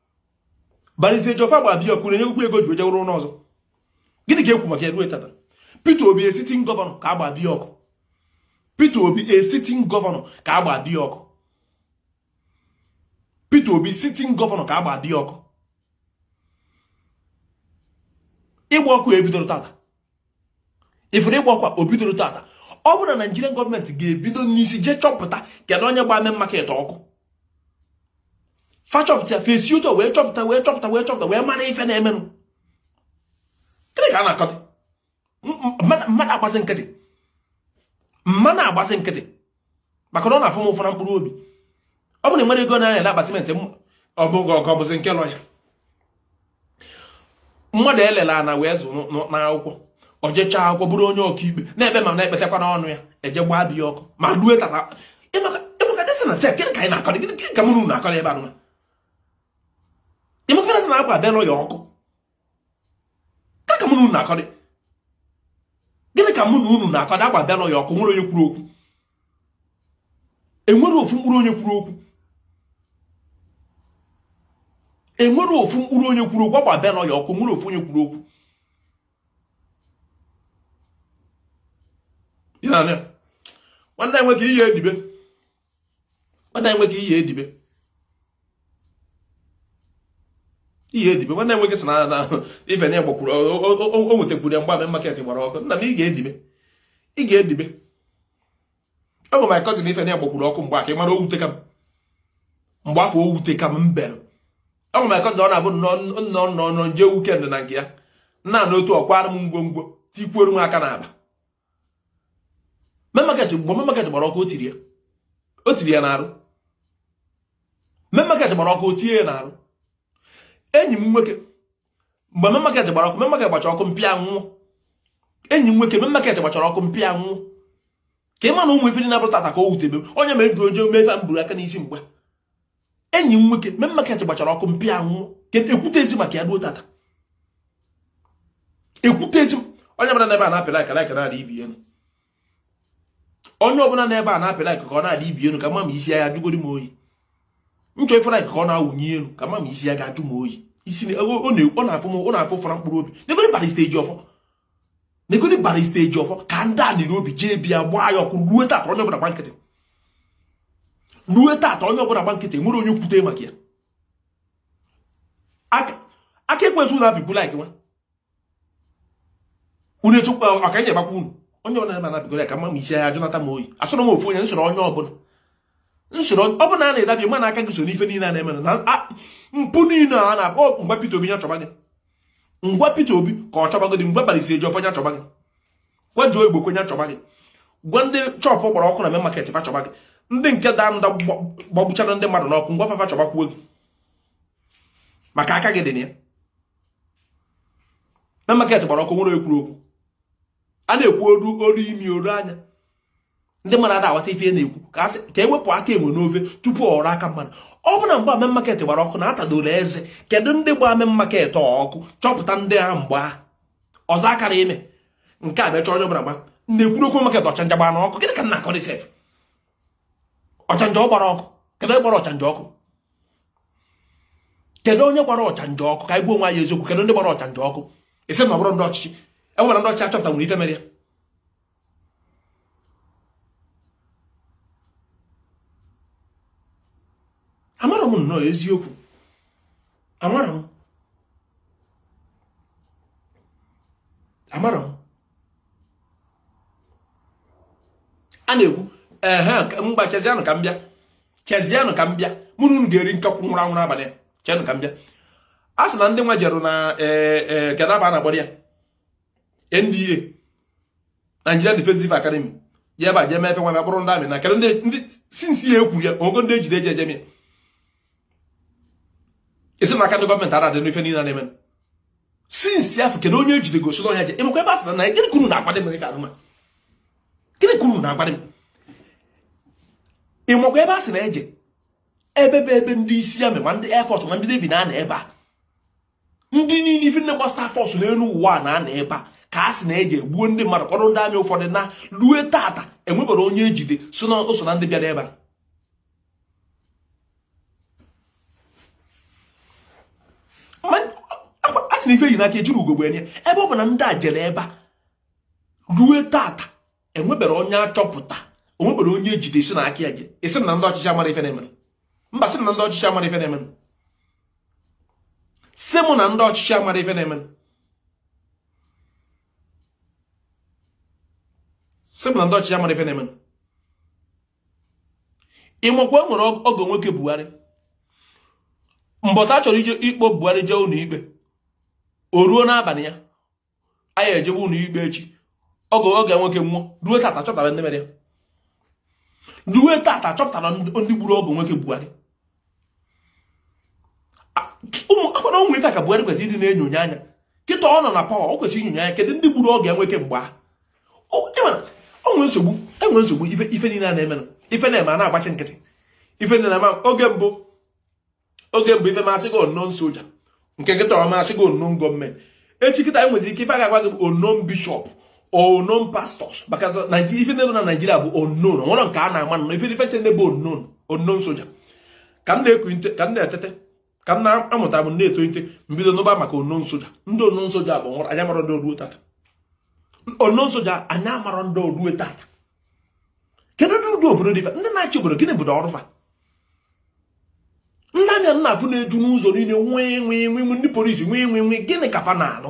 Barrister Ejiofor a gba be ya ọkụ unu enyego ya ego o ji jee rụọ ụlọ ọzọ gịnị ka e kwu maka ya ruo tata Peter Obi a sitting governor ka a gba be ya ọkụ Peter Obi a sitting governor ka a gba be ya ọkụ Peter Obi sitting governor ka a gba be ya ọkụ ịgba ọkụ ebidorọ tata ị furu ịgba ọkụ a o bidorọ tata ọ bụrụ na Nigerian gọọmenti ga-ebido n'isi jee chọpụta kedu onye gba main market ọkụ fa chọpụta fa esi etu a wee chọpụta wee chọpụta wee chọpụta wee mara ife na-emenụ gịnị ka a na-akọta m ma na-agbazi nkịtị m ma na-agbazi nkịtị maka na ọ na-afụ m ụfụ na mkpụrụ obi ọ bụrụ na i nwere ego na-anya na akpatimenti ọbụghị ọgọ bụzi nke lọya mmadụ e lelu ana wee zụọ n'akwụkwọ o jecha akwụkwọ bụrụ onye ọkaikpe na-ekpe ma na-ekpetakwa n'ọnụ ya e jee gbaa be ya ọkụ ma rue tata ị makadị sị na sef gịnị ka anyị na-akọrị gịnị ka mụ na unu na-akọrị ebe anụma ị makadị sị na agba be lọya ọkụ ka mụ na unu na-akọdị gịnị ka mụ na unu na-akọdị agba be lọya ọkụ o nwere onye kwuru okwu e nwere ofu mkpụrụ onye kwuru okwu e nwere ofu mkpụrụ onye kwuru okwu agba be lọya ọkụ o nwere ofu onye kwuru okwu nwanne nwoke ị ya-edibe nwanne m nwoke ị ya-edibe ị ya-edibe nwanne m nwoke sị na ife na gbakwuru o nwetakwuru ya mgbe market gbara ọkụ nna m ị ga-edibe ị ga-edibe ọ bụ my cousin ife na gbakwuru ọkụ mgbe aka ị mara o wuteka m m gbaa afọ o wuteka m m bere ọ bụ my cousin ọ na-abụ m nọọ nọọ m jee weekend na nke ya nna na otu ọ kwara m ngwongwo tikwuoro m aka n'akpa main market mgbe main market gbara ọkụ o tiri ya o tiri ya n'arụ main market gbara ọkụ o tinye ya n'arụ enyi m nwoke mgbe main market gbara ọkụ main market gbacha ọkụ mpịa nwụọ enyi m nwoke main market gbachara ọkụ mpịa nwụọ ka ị ma na ụmụ ife dị na-abụrụ tata ka o wutebe onye mere ji ojo mee ife m buru aka n'isi mgbe enyi m nwoke main market gbachara ọkụ mpịa nwụọ e kwutezi maka ya ruo tata e kwutezi onye ọbụla n'ebe a na-apịla aka na-aka na-adị ibi elu onye ọbụla n'ebe a na-apịla aka ka ọ na-adị ibi elu ka m ma ma isi ya-ajụgoro m oyi m chọọ ife like ka ọ na-awụnye elu ka m ma ma isi ya ga-ajụ m oyi isi ọ na-afụ m ọ na-afụ ụfụ na mkpụrụ obi negodi Barrister Ejiofor negodi Barrister Ejiofor ka ndị a niri obi jee be ya gbaa ya ọkụ ruo tata onye ọbụla gba nkịtị ruo tata onye ọbụla gba nkịtị o nwere onye kwute maka ya aka ekwentị ụlọ abịbụ like nwa unu echekwa ọka nye gbakwa unu onye ọbụla na abịgoro ya ka m ma ma isi ọ ya-ajụnata m oyi asọrọ m ofu onye m sọrọ onye ọbụla nsoro ọ bụla a na-edabi mana aka gị so n'ife niile a na-eme na mpụ niile a na-akpọ m gwa Peter Obi nya chọba gị m gwa Peter Obi ka ọ chọba gị m gwa Barrister Ejiofor nya chọba gị gwa Joe Igbokwe nya chọba gị gwa ndị shop gbara ọkụ na main market fa chọba gị ndị nke tanker gbagbuchara ndị mmadụ n'ọkụ m gwa fa fa chọbakwuo gị maka aka gị dị na ya main market gbara ọkụ nwere ekwuru okwu a na-ekwu o ruo o ruo imi o ruo anya ndị mmadụ ada aghọta ife na-ekwu ka a sị ka e wepụ aka enwe n'ofe tupu ọ ghọrọ aka mmadụ ọ bụ na mgbe Main Market gbara ọkụ na atadoro eze kedu ndị gbara Main Market ọkụ chọpụta ndị ahụ mgbe ahụ ọzọ akara ime nke a mechaa onye ọbụla gba na-ekwurọ okwu market ọchanja gbara ọkụ gịnị ka m na-akọrị sef ọchanja ọ gbara ọkụ kedu onye gbara ọchanja ọkụ kedu onye gbara ọchanja ọkụ ka anyị gbuo nwa ya eziokwu kedu ndị gbara ọchanja ọkụ ị sị na ọ bụrụ ndị ọchịchị e nwere ndị ọchịchị achọpụta nwere ife mere ya amarọ m nnọọ eziokwu amarọ m amarọ m a na-ekwu ehe ngwa chezianụ ka m bịa chezianụ ka m bịa mụ na unu ga-eri nkakwụ nwụrụ anwụrụ abalị chenụ ka m bịa a sị na ndị nwa jerụ na e, e, kedụ ebe a na-akpọ ya NDA Nigeria Defensive Academy ya ebe a jee mee ife nwa buru ndị army naa kedụ ndị since ya ekwu ya ogo ndị ejide eji ejemi ị sị na aka ndị government ada adị n'ife niile na-eme since afọ kedụ onye ejide gosi onye je ịmakwa ebe a sịra na ya gịnị ka unu na-agwadị m ife anụma gịnị ka unu na-agwadị m ịmakwa ebe a sị na eje ebe bụ ebe ndị isi army ndị air force ma ndị navy na-anọ ebe a ndị niile ife ndị gbasara force n'elu ụwa na-anọ ebe a ka a sị na e je gbuo ndị mmadụ kpọrọ ndị army ụfọdụ naa rue tata enweberọ onye ejide sị na o so na ndị bịara ebe a a sị na ife e ji n'aka ejirọ ugogbe ene ya ebe ọ bụ na ndị a jere ebe a rue tata enweberọ onye a chọpụta enweberọ onye ejide sị na aka ya dị ị sị m na ndị ọchịchị amarọ ife na-emere mba sị na ndị ọchịchị amarọ ife na-emere sị mụ na ndị ọchịchị amarọ ife na-emere sị mụ na ndị ọchịchị amarọ ife na-emere ịmakwa e nwere ọgọ nwoke Buhari mbọchị a chọrọ ije ịkpọ Buhari jee ụlọ ikpe o ruo n'abalị ya a ya-ejewe ụlọ ikpe echi ọgọ ya nwoke nwụọ ruo tata a chọpụtara ndị mere ya ruo tata a chọpụtara ndị gburu ọgọ nwoke Buhari ụmụ akwara ụmụ ife ka Buhari kwesịrị ịdị na-enyonye anya kịta ọ nọ na power o kwesịrị inyonye anya kedu ndị gburu ọgọ ya nwoke mgbe ahụ o nwe nsogbu enwerọ nsogbu ife niile a na-eme ife na-eme a na-agbachi nkịtị ife na-eme oge mbụ oge mbụ ife mee a sị gị unknown soja nke kịta ọ mee a sị gị unknown government echi kịta enwezi ike ife a ga-agwa gị bụ unknown bishop unknown pastors maka ife na-eme na naijiria bụ unknown nwere nke a na-ama nọ ife ife ncha na-abụ unknown unknown soja ka m na-eku ka m na-etete ka m na-amụta m na-etolite m bido nụba maka unknown soja ndị unknown soja bụ nwụrụ anyị amarọ ndị o ruo tata unknown soja anyị amarọ ndị o ruo tata kedu ndị ụdị obodo dị ifa ndị na-achị obodo gịnị bụdo ọrụ fa ndị ami a na-afụ na-eju n'ụzọ niile nwee nwee nwee ndị polisi nwee nwee nwee gịnị ka fa na-alụ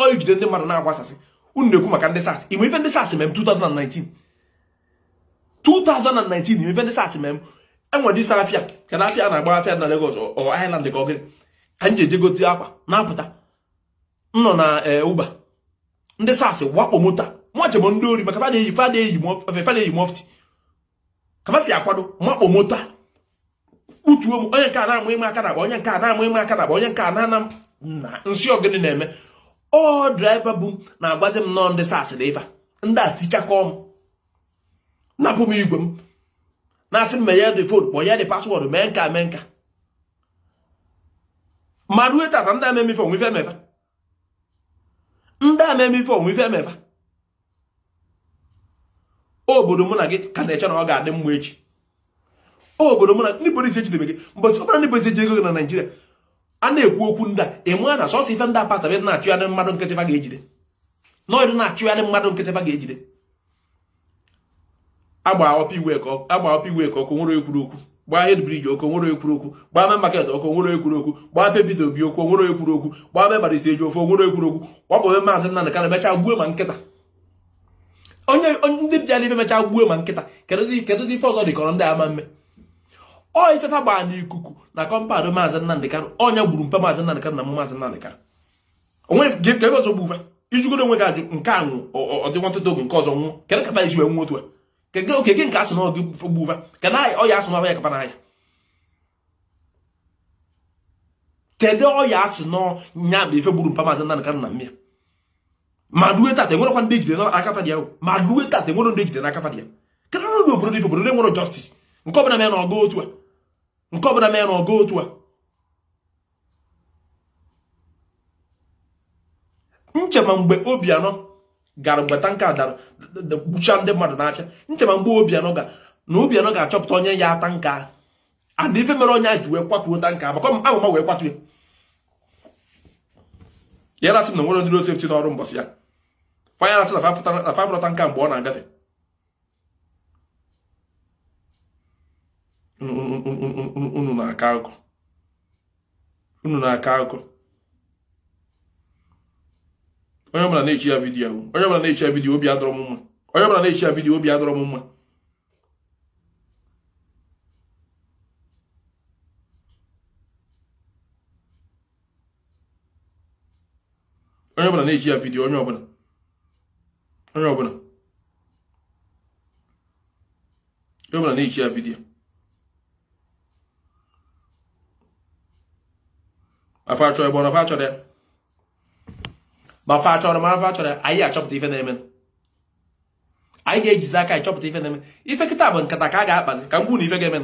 ọ ijide ndị mmadụ na-agbasasị unu na-ekwu maka ndị SARS o nwe ife ndị SARS me m 2019 2019 o nwe ife ndị SARS me m enwere isi afịa ka na afịa na-agba afịa na Lagos ọ Island ka ọ gịnị ka m ji eje gote akwa na-apụta m nọ na e, Uber ndị SARS wakpo moto m chee ọ bụ ndị ori maka fa na-eyi fa na-eyi fa na-eyi mọfti ka m si akwado wakpo moto kpụtuo m onye nke a na-amụ ime aka na onye nke a na-amụ ime aka na onye nke a na-ana na m sị ọ gịnị na-eme ọ draiva bu m na-agwazi m na ọ ndị SARS na ife ndị a tichakọọ m napụ m igwe m na-asị m meghe the phone kpọọ ya the password mee nka mee nka ma rue tata ndị a me m ife o nwe ife e me fa ndị a me m ife o nwe ife e me fa obodo mụ na gị ka na-eche na ọ ga-adị mma echi obodo mụ na ndị polisi ejidebe gị mbọchị ọbụla ndị polisi eji ego gị na naijiria a na-ekwu okwu ndị a ị mara na sọsọ ife ndị apasa ebe na-achụgharị mmadụ nkịtị fa ga-ejide nọọdụ na-achụgharị mmadụ nkịtị fa ga-ejide a gbaa Upper Iweka ọkụ nwere ekwuru okwu gbaa Head Bridge ọkụ nwere ekwuru okwu gbaa Main Market ọkụ nwere ekwuru okwu gbaa be Peter Obi ọkụ nwere ekwuru okwu gbaa be Barista Ejiofor nwere ekwuru okwu gbapụ be maazị Nnamdị Kanu mechaa gbuo ma nkịta onye ndị bịa n'ife mechaa gbuo ma nkịta kedụzi ife ọzọ dịkọrọ ndị a ime ọ ife fa gbaa n'ikuku na compound maazị Nnamdị Kanu ọ ya gburu mpa maazị Nnamdị Kanu na maazị Nnamdị Kanu o nwe nke ebe ọzọ gbu va ị jụgodu onwe gị ajụjụ nke a nwụọ ọ dị nwantịntị oge nke ọzọ nwụọ kedụ ka fa si wee nwụ otu a kedụ oke gị nke a sị na ọ gị gbu va kedụ ọya a sị na ọ ya kapa n'ahịa kedụ ọya a sị na ọ ya bụ ife gburu mpa maazị Nnamdị Kanu na nne ya ma rue tata enwerekwa ndị ejide n'aka fa dị ya ma rue tata enwere ndị ejide n'aka fa dị ya kedụ na obodo ife obodo enwerọ justice nke ọbụla meenụ ọ gaa otu a nke ọbụla meenụ ọ gaa otu a nchema mgbe Obianọ gara mgbe tanka dara gbuchaa ndị mmadụ n'afịa nchema mgbe Obianọ ga na Obianọ ga-achọpụta onye nya tanka ahụ and ife mere onye a ji wee kwatuo tanka maka ọ ma ama wee kwatuo ya ị ya-asị na o nwerọ ndị road safety nọ ọrụ mbọsị ya fa ya-asị na fa afụrọ tanka mgbe ọ na-agafe unu na-akọ akụkọ unu na-akọ akụkọ onye ọbụla na-eshịa vidiyo onye ọbụla na-eshịa vidiyo obi adịrọ m mma onye ọbụla na-eshịa vidiyo obi adịrọ m mma onye ọbụla na-eji ya vidiyo onye ọbụla onye ọbụla onye ọbụla na-eji ya vidiyo ma fa chọrọ ma ọ na fa achọrọ ma fa chọrọ ma ọ na fa achọrọ anyị achọpụta ife na-eme anyị ga-ejizi aka anyị chọpụta ife na-eme ife kịta bụ nkata ka a ga-akpazi ka m gwa ụna ife ga-eme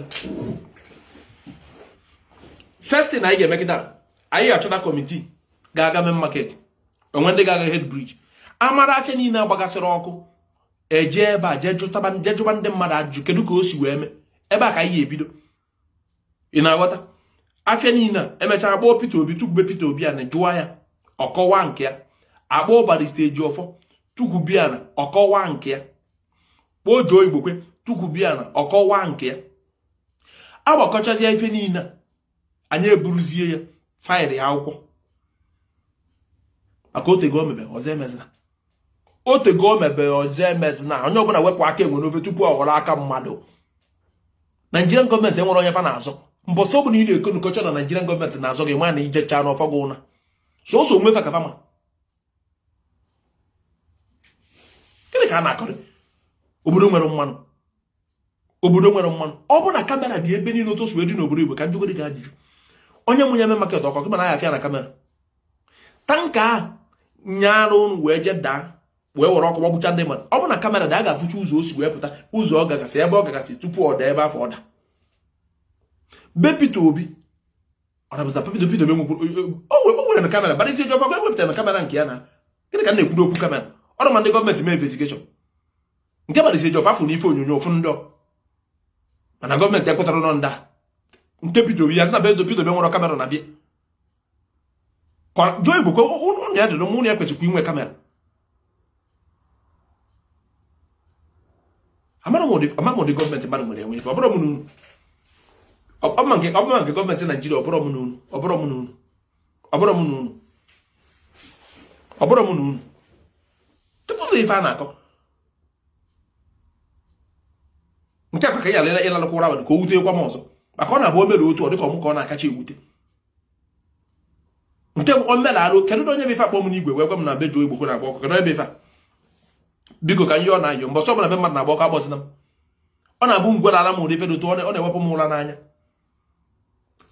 first thing anyị ga-eme kịta anyị ga-achọta kọmitii ga-aga Main Market o nwee ndị ga-aga Head Bridge a mara afịa niile agbagasịrị ọkụ e jee ebe a jee jụba ndị mmadụ ajụjụ kedu ka o si wee mee ebe a ka anyị ga-ebido ị na-aghọta afịa niile a e mechaa kpọọ Peter Obi tukwube Peter Obi ana jụwa ya ọ kọwa nke ya a kpọọ Barista Ejiofor tukwube ana ọ kọwa nke ya kpọọ Joe Igbokwe tukwube ana ọ kọwa nke ya agbakọchazie ife niile anyị eburuzie ya faịlị akwụkwọ maka o tego o mebe ọzọ emezina o tego o mebe ọzọ emezina onye ọbụla wepụ aka enwe n'ofe tupu ọ ghọrọ aka mmadụ Nigerian gọọmenti enwere onye fa na-azọ mbọsị ọbụla ị na-eko nkọcha na Nigerian gọọmenti na-azọ gị nwa na ijecha n'ọfọ gị ụna sọsọ onwe fa ka fa ma gịnị ka a na-akọrị obodo nwere mmanụ obodo nwere mmanụ ọ bụrụ na kamera dị ebe niile otu o si wee dị n'obodo Igbo ka m jụgodi gị ajụjụ onye mụnye Main Market ọkụ ị ma na a ya-afụ ya na kamera tanka ahụ nyaara ụnụ wee jee daa wee were ọkụ gbagbucha ndị mmadụ ọ bụ na kamera dị a ga-afụcha ụzọ o si wee pụta ụzọ ọ gagasị ebe ọ gagasị tupu ọ daa ebe afụ ọ da be Peter Obi ọ dabụza Peter Obi dobe o nwere na kamera Barista Ejiofor kwa e wepụtara na kamera nke ya na gịnị ka a na-ekwuru okwu kamera ọ dị ma ndị gọọmenti mee investigeshọn nke Barista Ejiofor afụ na ife onyonyo ofu ndọ mana gọọmenti ekwupụtarọ ọnụ ndaa nke Peter Obi ya sị na be Peter Obi nwere kamera na be Joe Igbokwe ụnọ ya dịrị ụnọ ya kwesịkwa inwe kamera amara m ụdị gọọmenti mmadụ nwere enwe ife ọ bụrụ m n'unu ọbụma nke gọọmenti Naijiria ọbụrụ m n'unu ọbụrụ m n'unu ọ bụrụ m na unu ọ bụrụ m na unu tupu ụzọ ife a na-akọ nke akwa ka ị yara ịlalụkwa ụra abalị ka o wute gwa m ọzọ maka ọ na-abụ o mere otu ọ dịka ọmụ ka ọ na-akacha ewute nke bụ omenala kedu onye bụ ife akpọ m n'igwe wee gwa m na be Joe Igbokwe na-agba ọkụ kedu ebe ife biko ka ihe ọ na-ayọ mgbe ọzọ ọbụla be mmadụ na-agba ọkụ akpọzina m ọ na-abụ a gwala m ụdị ife dị otu ọ na-ewepụ m ụra n'anya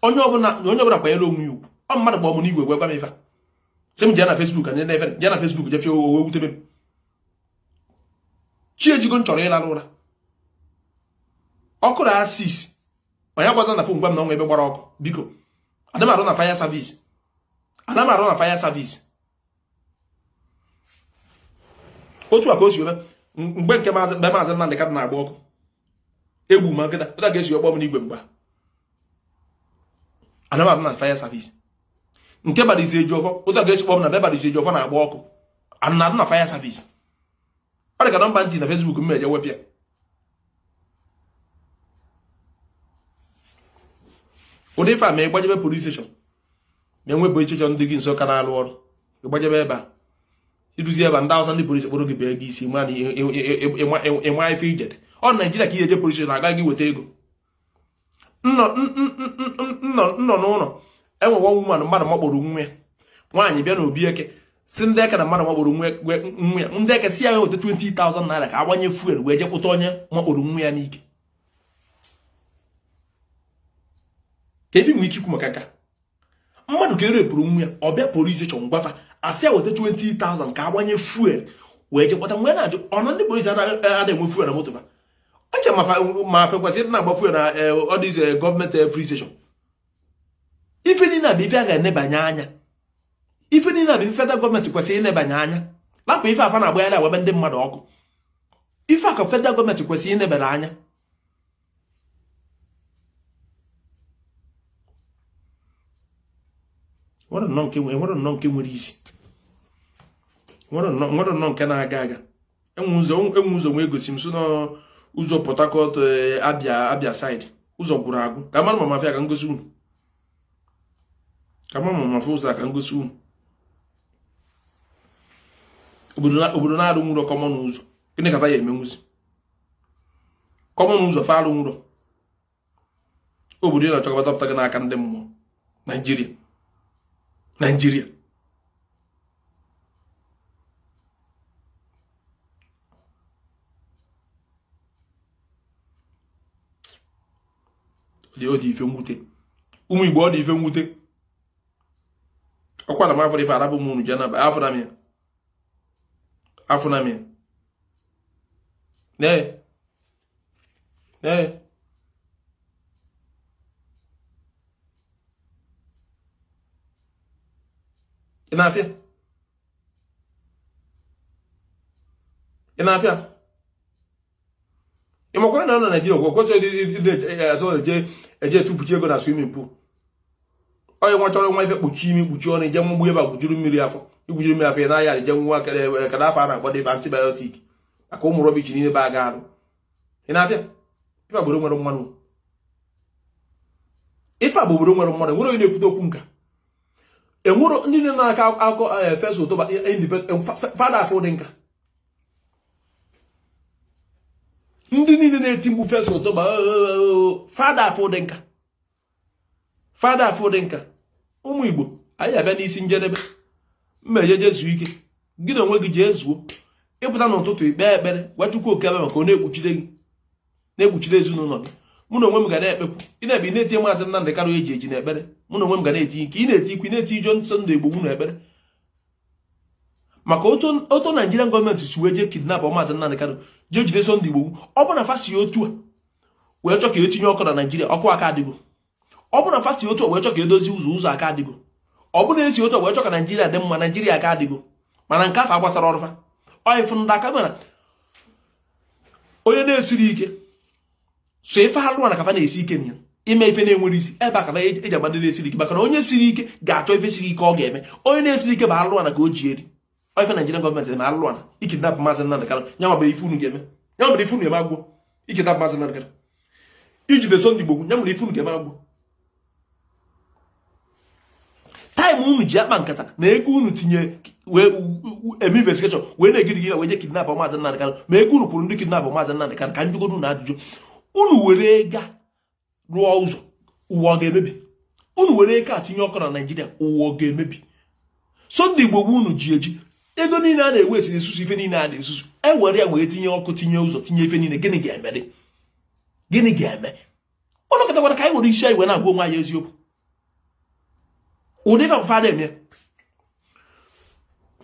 onye ọbụla na onye ọbụla kwanyere onwe ya ugwu ọ mmadụ kpọọ mụ n'igwe gwa gwa m ife sị m jee na Facebook anyị na-efe jee na Facebook jefie owe wutebe m chi ejigo m chọrọ ịlarụ ụra ọkụ na asis onye gwaza na fon gwa m na o nwe ebe gbara ọkụ biko ana m arụ na fire service ana m arụ na fire service otu a ka o si eme mgbe nke maazị mgbe maazị Nnamdị Kanu na-agba ọkụ e gbuo ma nkịta otu a ka e si akpọ m n'igwe mgba ana m arụ na fire service nke Barrister Ejiofor otu a ka e si kpọ m na be Barrister Ejiofor na-agba ọkụ ana m arụ na fire service ọ dị ka nọmba m tiri na Facebook m eje wepụ ya ụdị ife a ma ị gbajebe police station ma e nwe police station dị gị nso ka na-alụ ọrụ ị gbajebe ebe a i ruzie ebe ndị awụsa ndị polisi kpụrụ gị bee gị isi ma na ị ma ife i jere ọ naijiria ka i ye eje polisi a gwa gị weta ego m nọ n'ụlọ e nwe nwa woman mmadụ makpuru nwa ya nwaanyị bịa na obi eke sị ndị eke na mmadụ makpuru nwa ya ndị eke sị ya weta 20,000 naira ka a gbanye fuel wee je kpụta onye makpuru nwa ya n'ike ka ebe nwere ike ikwu maka nka mmadụ ka e rape-ụrụ nwa ya ọ bịa police station gwa fa a sị ya weta 20,000 ka a gbanye fuel wee je kpụta nwa ya na-ajụ ọnụ ndị polisi adịghị enwe fuel na moto fa e chee m na fa kwesịrị na-agba fuel na all these gọọmenti free station ife niile a bụ ife a ga-enebanye anya ife niile a bụ ife federal gọọmenti kwesịrị inebanye anya lapụ ife a fa na-agbagharị agba be ndị mmadụ ọkụ ife a ka federal gọọmenti kwesịrị inebara anya nwerọ nnọọ nke nwere isi nwerọ nnọọ nke na-aga aga e nwe ụzọ e nwe ụzọ nwee gosi m so n'ụzọ Port Harcourt eh, Abịa Abịa side ụzọ gwụrụ agwụ ka m mara ma m afụ ya ka m gosi unu ka m mara ma m afụ ụzọ ka m gosi unu obodo na-arụnwurọ common ụzọ gịnị ka fa ya-emenwuzi common ụzọ fa arụnwurọ obodo ị nọ ọ Chukwu ga-adọpụta gị n'aka ndị mmụọ naijiria naijiria ọ dị ife mwute ụmụ igbo ọ dị ife mwute ọkwa na m afụ ife arabụ m unu ji anaba afọ na m ya afọ na m ya Ee. Ị na-afụ ya? Ị na-afụ ya? Ị makwara na ọ na Naịjirịa gwọ kwechọ azụ eje eje etufuchi ego na swimming pool onye nwa chọrọ were ife kpuchi imi kpuchi ọnụ ije mgbugbu ebe a gwujuru mmiri afọ igwujuru mmiri afọ ya n'ahịa ije nwa kada afọ a na-agbado ife antibiotic maka ụmụ rubbish niile be aga arụ ị na-afụ ya ife agboro nwere mmanụ ife agboro nwere mmanụ enwero onye na-ekwute okwu nka enwero ndị niile na-akọ akụkọ eh, First October eh, eh, fa ada afụ ụdị nka ndị niile na-eti mkpu First October fa ada afụ ụdị nka fa ada afụ ụdị nka ụmụ igbo anyị abịa n'isi njedebe m eje je zuo ike gị na onwe gị jee zuo ị pụta n'ụtụtụ i kpee ekpere gwa Chukwu Okike Abịama ka ọ na-ekpuchide gị na-ekpuchide ezinụlọ gị mụ na onwe m ga na-ekpekwu ị na-ekpe ị na-etinye maazị Nnamdị Kanụ e ji eji na ekpere mụ na onwe m ga na-etinye ị na-etinyekwu ị na-etinye Sunday Igboho na ekpere maka otu Naịjirịan gọọmenti si wee jee kidnap maazị Nnamdị Kanụ jee jide Sunday Igboho ọ bụ na fa si otu a wee chọ ka e tinye ọkụ na naijiria ọkụ aka adịgo ọ bụrụ na fa si otu a wee chọ ka e dozie ụzọ ụzọ aka adịgo ọ bụrụ na e si otu a wee chọ ka naijiria dị mma naijiria aka adịgo mana nke afụ agbasaro fa ọyịfụ ndị aka mana onye na-esiro ike sọ ife alụlụana ka fa na-esi ike na ya ime ife na-enwero isi ebe a ka e-, eji ama ndị na-esiro ike maka na onye siri ike ga-achọ ife siri ike ọ ga-eme onye na-esiro ike bụ alụlụana ka o ji eri ọ ife Nigerian gọọmenti dị na alụ a i kidnap maazị Nnamdị Kanụ ya nwa bụrụ ife unu ga-eme ya nwa bụrụ ife unu ga-eme agwụ i kidnap maazị Nnamdị Kanụ i jide Sunday Igboho ya nwere ife unu ga-eme agwụ taịm unu ji akpa nkata ma ego unu tinye wee eme investigeshọn wee na-egide gị wee je kidnap maazị Nnamdị Kanụ ma ego unu kwụrụ ndị kidnap maazị Nnamdị Kanụ ka m jụgodu unu ajụjụ unu were ego rụọ ụzọ ụwa ọ ga-emebi unu were ego a tinye ọkụ na naijiria ụwa ọ ga-emebi so ndị igbo ego unu ji eji ego niile a na-waste na-ezuzu ife niile a na-ezuzu e were ya wee tinye ọkụ tinye ụzọ tinye ife niile gịnị ga-eme gịnị ga-eme ụlọ kọtakwara ka anyị were isi anyị wee na-agwa onwe anyị eziokwu ụdị ife fa na-eme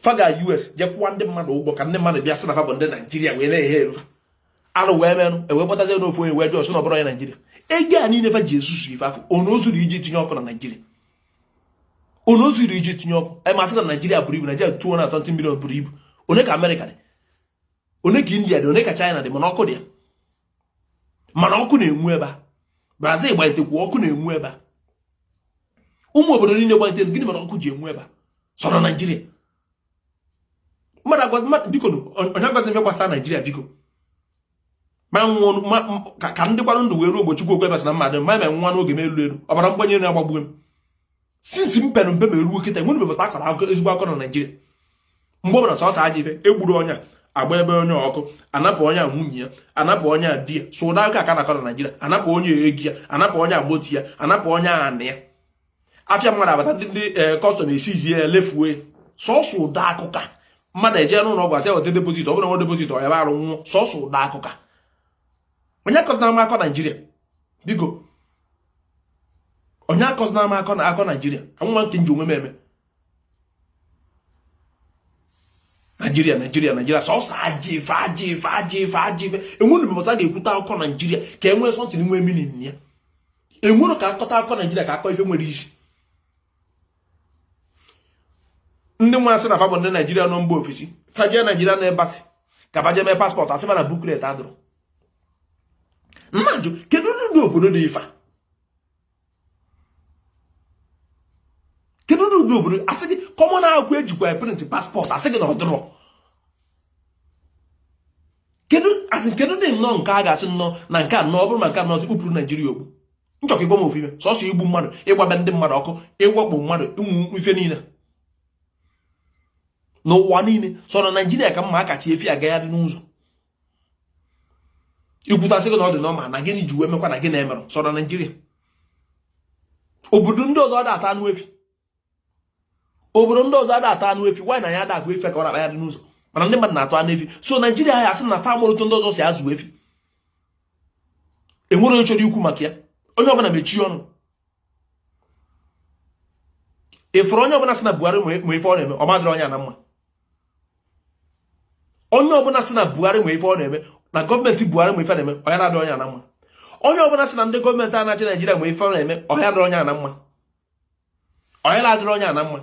fa ga US je kwụwa ndị mmadụ ụgwọ ka ndị mmadụ bịa sị na fa bụ ndị naijiria wee na-ehe erufa arụ wee merụ e wee kpọtazie n'ofu onye wee jụọ sị na ọ bụrọ onye naijiria ego a niile fa ji ezuzu ife afụ ọ na o zuro iji tinye ọkụ na naijiria ọ na o zuro iji tinye ọkụ anyị ma sị na naijiria buru ibu naijiria two hundred and something milion buru ibu one ka amerịka dị one ka india dị one ka china dị mana ọkụ dị ya mana ọkụ na-enwu ebe a brazil gbanyetekwu ọkụ na-enwu ebe a ụmụ obodo niile gbanyete gịnị mere ọkụ ji enwu ebe a sọ na naijiria biko onye agwazi ihe gbasara naijiria biko ma nwụọ ka m dịkwanụ ndụ wee ruo mgbe Chukwu okwe basị na mmadụ ma ma nwa n'oge m elu elu ọbara mgbani enu agbagbuo m since m pere mpe wee ruo kịta enwerọ mgbe a sị akọrọ akụkọ ezigbo akọ na Naịjirịa mgbe ọ bụla sọsọ ajọ ife egburu onye a agbaa be onye ọkụ anapụ onye a nwunye ya anapụ onye a di ya sọ ụdị akọ a na-akọ na Naịjirịa anapụ onye ego ya anapụ onye agboti ya anapụ onye anị ya afịa mmadụ abata ndị ndị custom eh, e seize ya lefue sọsọ ụdị akụkọ a mmadụ eje n'ụlọ ọgwụ asị weta deposit ọ bụrụ na o nwerọ deposit ọ yaba arụ nwụọ sọsọ ụdị akụkọ a onye akọzina m akọ naijiria biko onye akọzina m akọ na akọ naijiria ka m mara nke m ji onwe m eme naijiria naijiria naijiria sọsọ ajọ ife ajọ ife ajọ ife ajọ ife enwerọ mgbe ọzọ a ga-ekwute akụkọ naijiria ka e nwee something nwee meaning ya enwerọ ka akọta akụkọ naijiria ka akọ ife nwere isi ndị nwa sị na fa bụ ndị naijiria nọ mba ofesi fa jee nigerian embassy ka fa jee mee passport asị na booklet adịrọ m na-ajụ kedu ụdị obodo dị ife a kedu ụdị obodo asị gị common akwụkwọ ejikwa print passport asị gị na ọ dịrọ kedu asị kedu dị nnọọ nke a ga-asị nnọọ na nke a nnọọ ọ bụrụ ma nke a nnọọ e kpupụrụ naijiria okpu m chọọ ka ị gwa m ofu ife sọsọ igbu mmadụ ịgba be ndị mmadụ ọkụ ịwakpo mmadụ enu ife niile n'ụwa niile sọ na naijiria ka m ma a ka chị efi agagharị n'ụzọ i kwute a sị gị na ọ dị normal na gịnị ji wee mekwa na gị na-emerụ sọ na naijiria obodo ndị ọzọ ada ata anụ efi obodo ndị ọzọ ada ata anụ efi mana anyị ada afụ efi ka ọ na-akpagharị n'ụzọ mana ndị mmadụ na-ata anụ efi sọ naijiria ya asị na fa amụrọ otu ndị ọzọ si azụ efi enwerọ onye chọrọ ikwu maka ya onye ọbụla mechie ọnụ ị fụrụ onye ọbụla sị na buhari ma ife ọ na-eme ọ ma-adịrị onye a na mma onye ọbụla sị na buhari nwe ife ọ na-eme na gọọmenti buhari nwe ife na-eme ọ ya na-adị onye a na mma onye ọbụla sị na ndị gọọmenti a na-achị naijiria nwe ife ọ na-eme ọ ya-adịrị onye a na mma ọ ya na-adịrị onye a na mma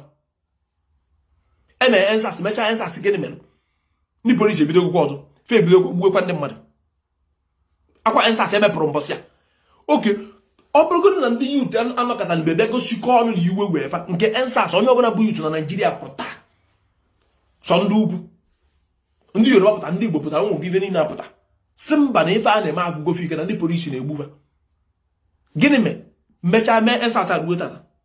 e mere EndSARS mechaa EndSARS gịnị mere ndị polisi ebidokwuo ọzọ fa ebidokwuo gbuokwa ndị mmadụ ọkwa EndSARS e mepụrụ mbọsị a okay ọ bụrụgodị na ndị youth anọkọta mgbe bịa gosikọ ọnụ na iwe wee fa nke EndSARS onye ọbụla bụ youth na naijiria pụta sọ ndị ugwu ndị yoruba pụta ndị igbo pụtara ụmụ gị ife niile apụta sị mba na ife a na-eme agwụgo fa ike na ndị polisi na-egbu fa gịnị mee mechaa mee EndSARS agbuo tata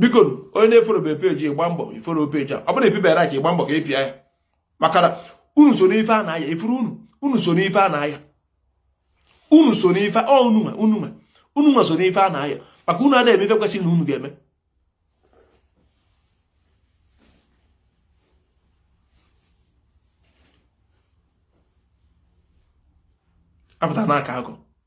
bikonu onye na-efollowbe page gba mbọ ị follow page a ọ bụrụ ebibere ka ị gba mbọ ka ị pịa ya maka na unu so n'ife a na-aya ị fụrụ unu unu so n'ife a na-aya unu so n'ife ọ unu nwa unu nwa unu nwa so n'ife a na-aya maka unu adịghị eme ife kwesịrị na unu ga-eme apụta n'aka akụ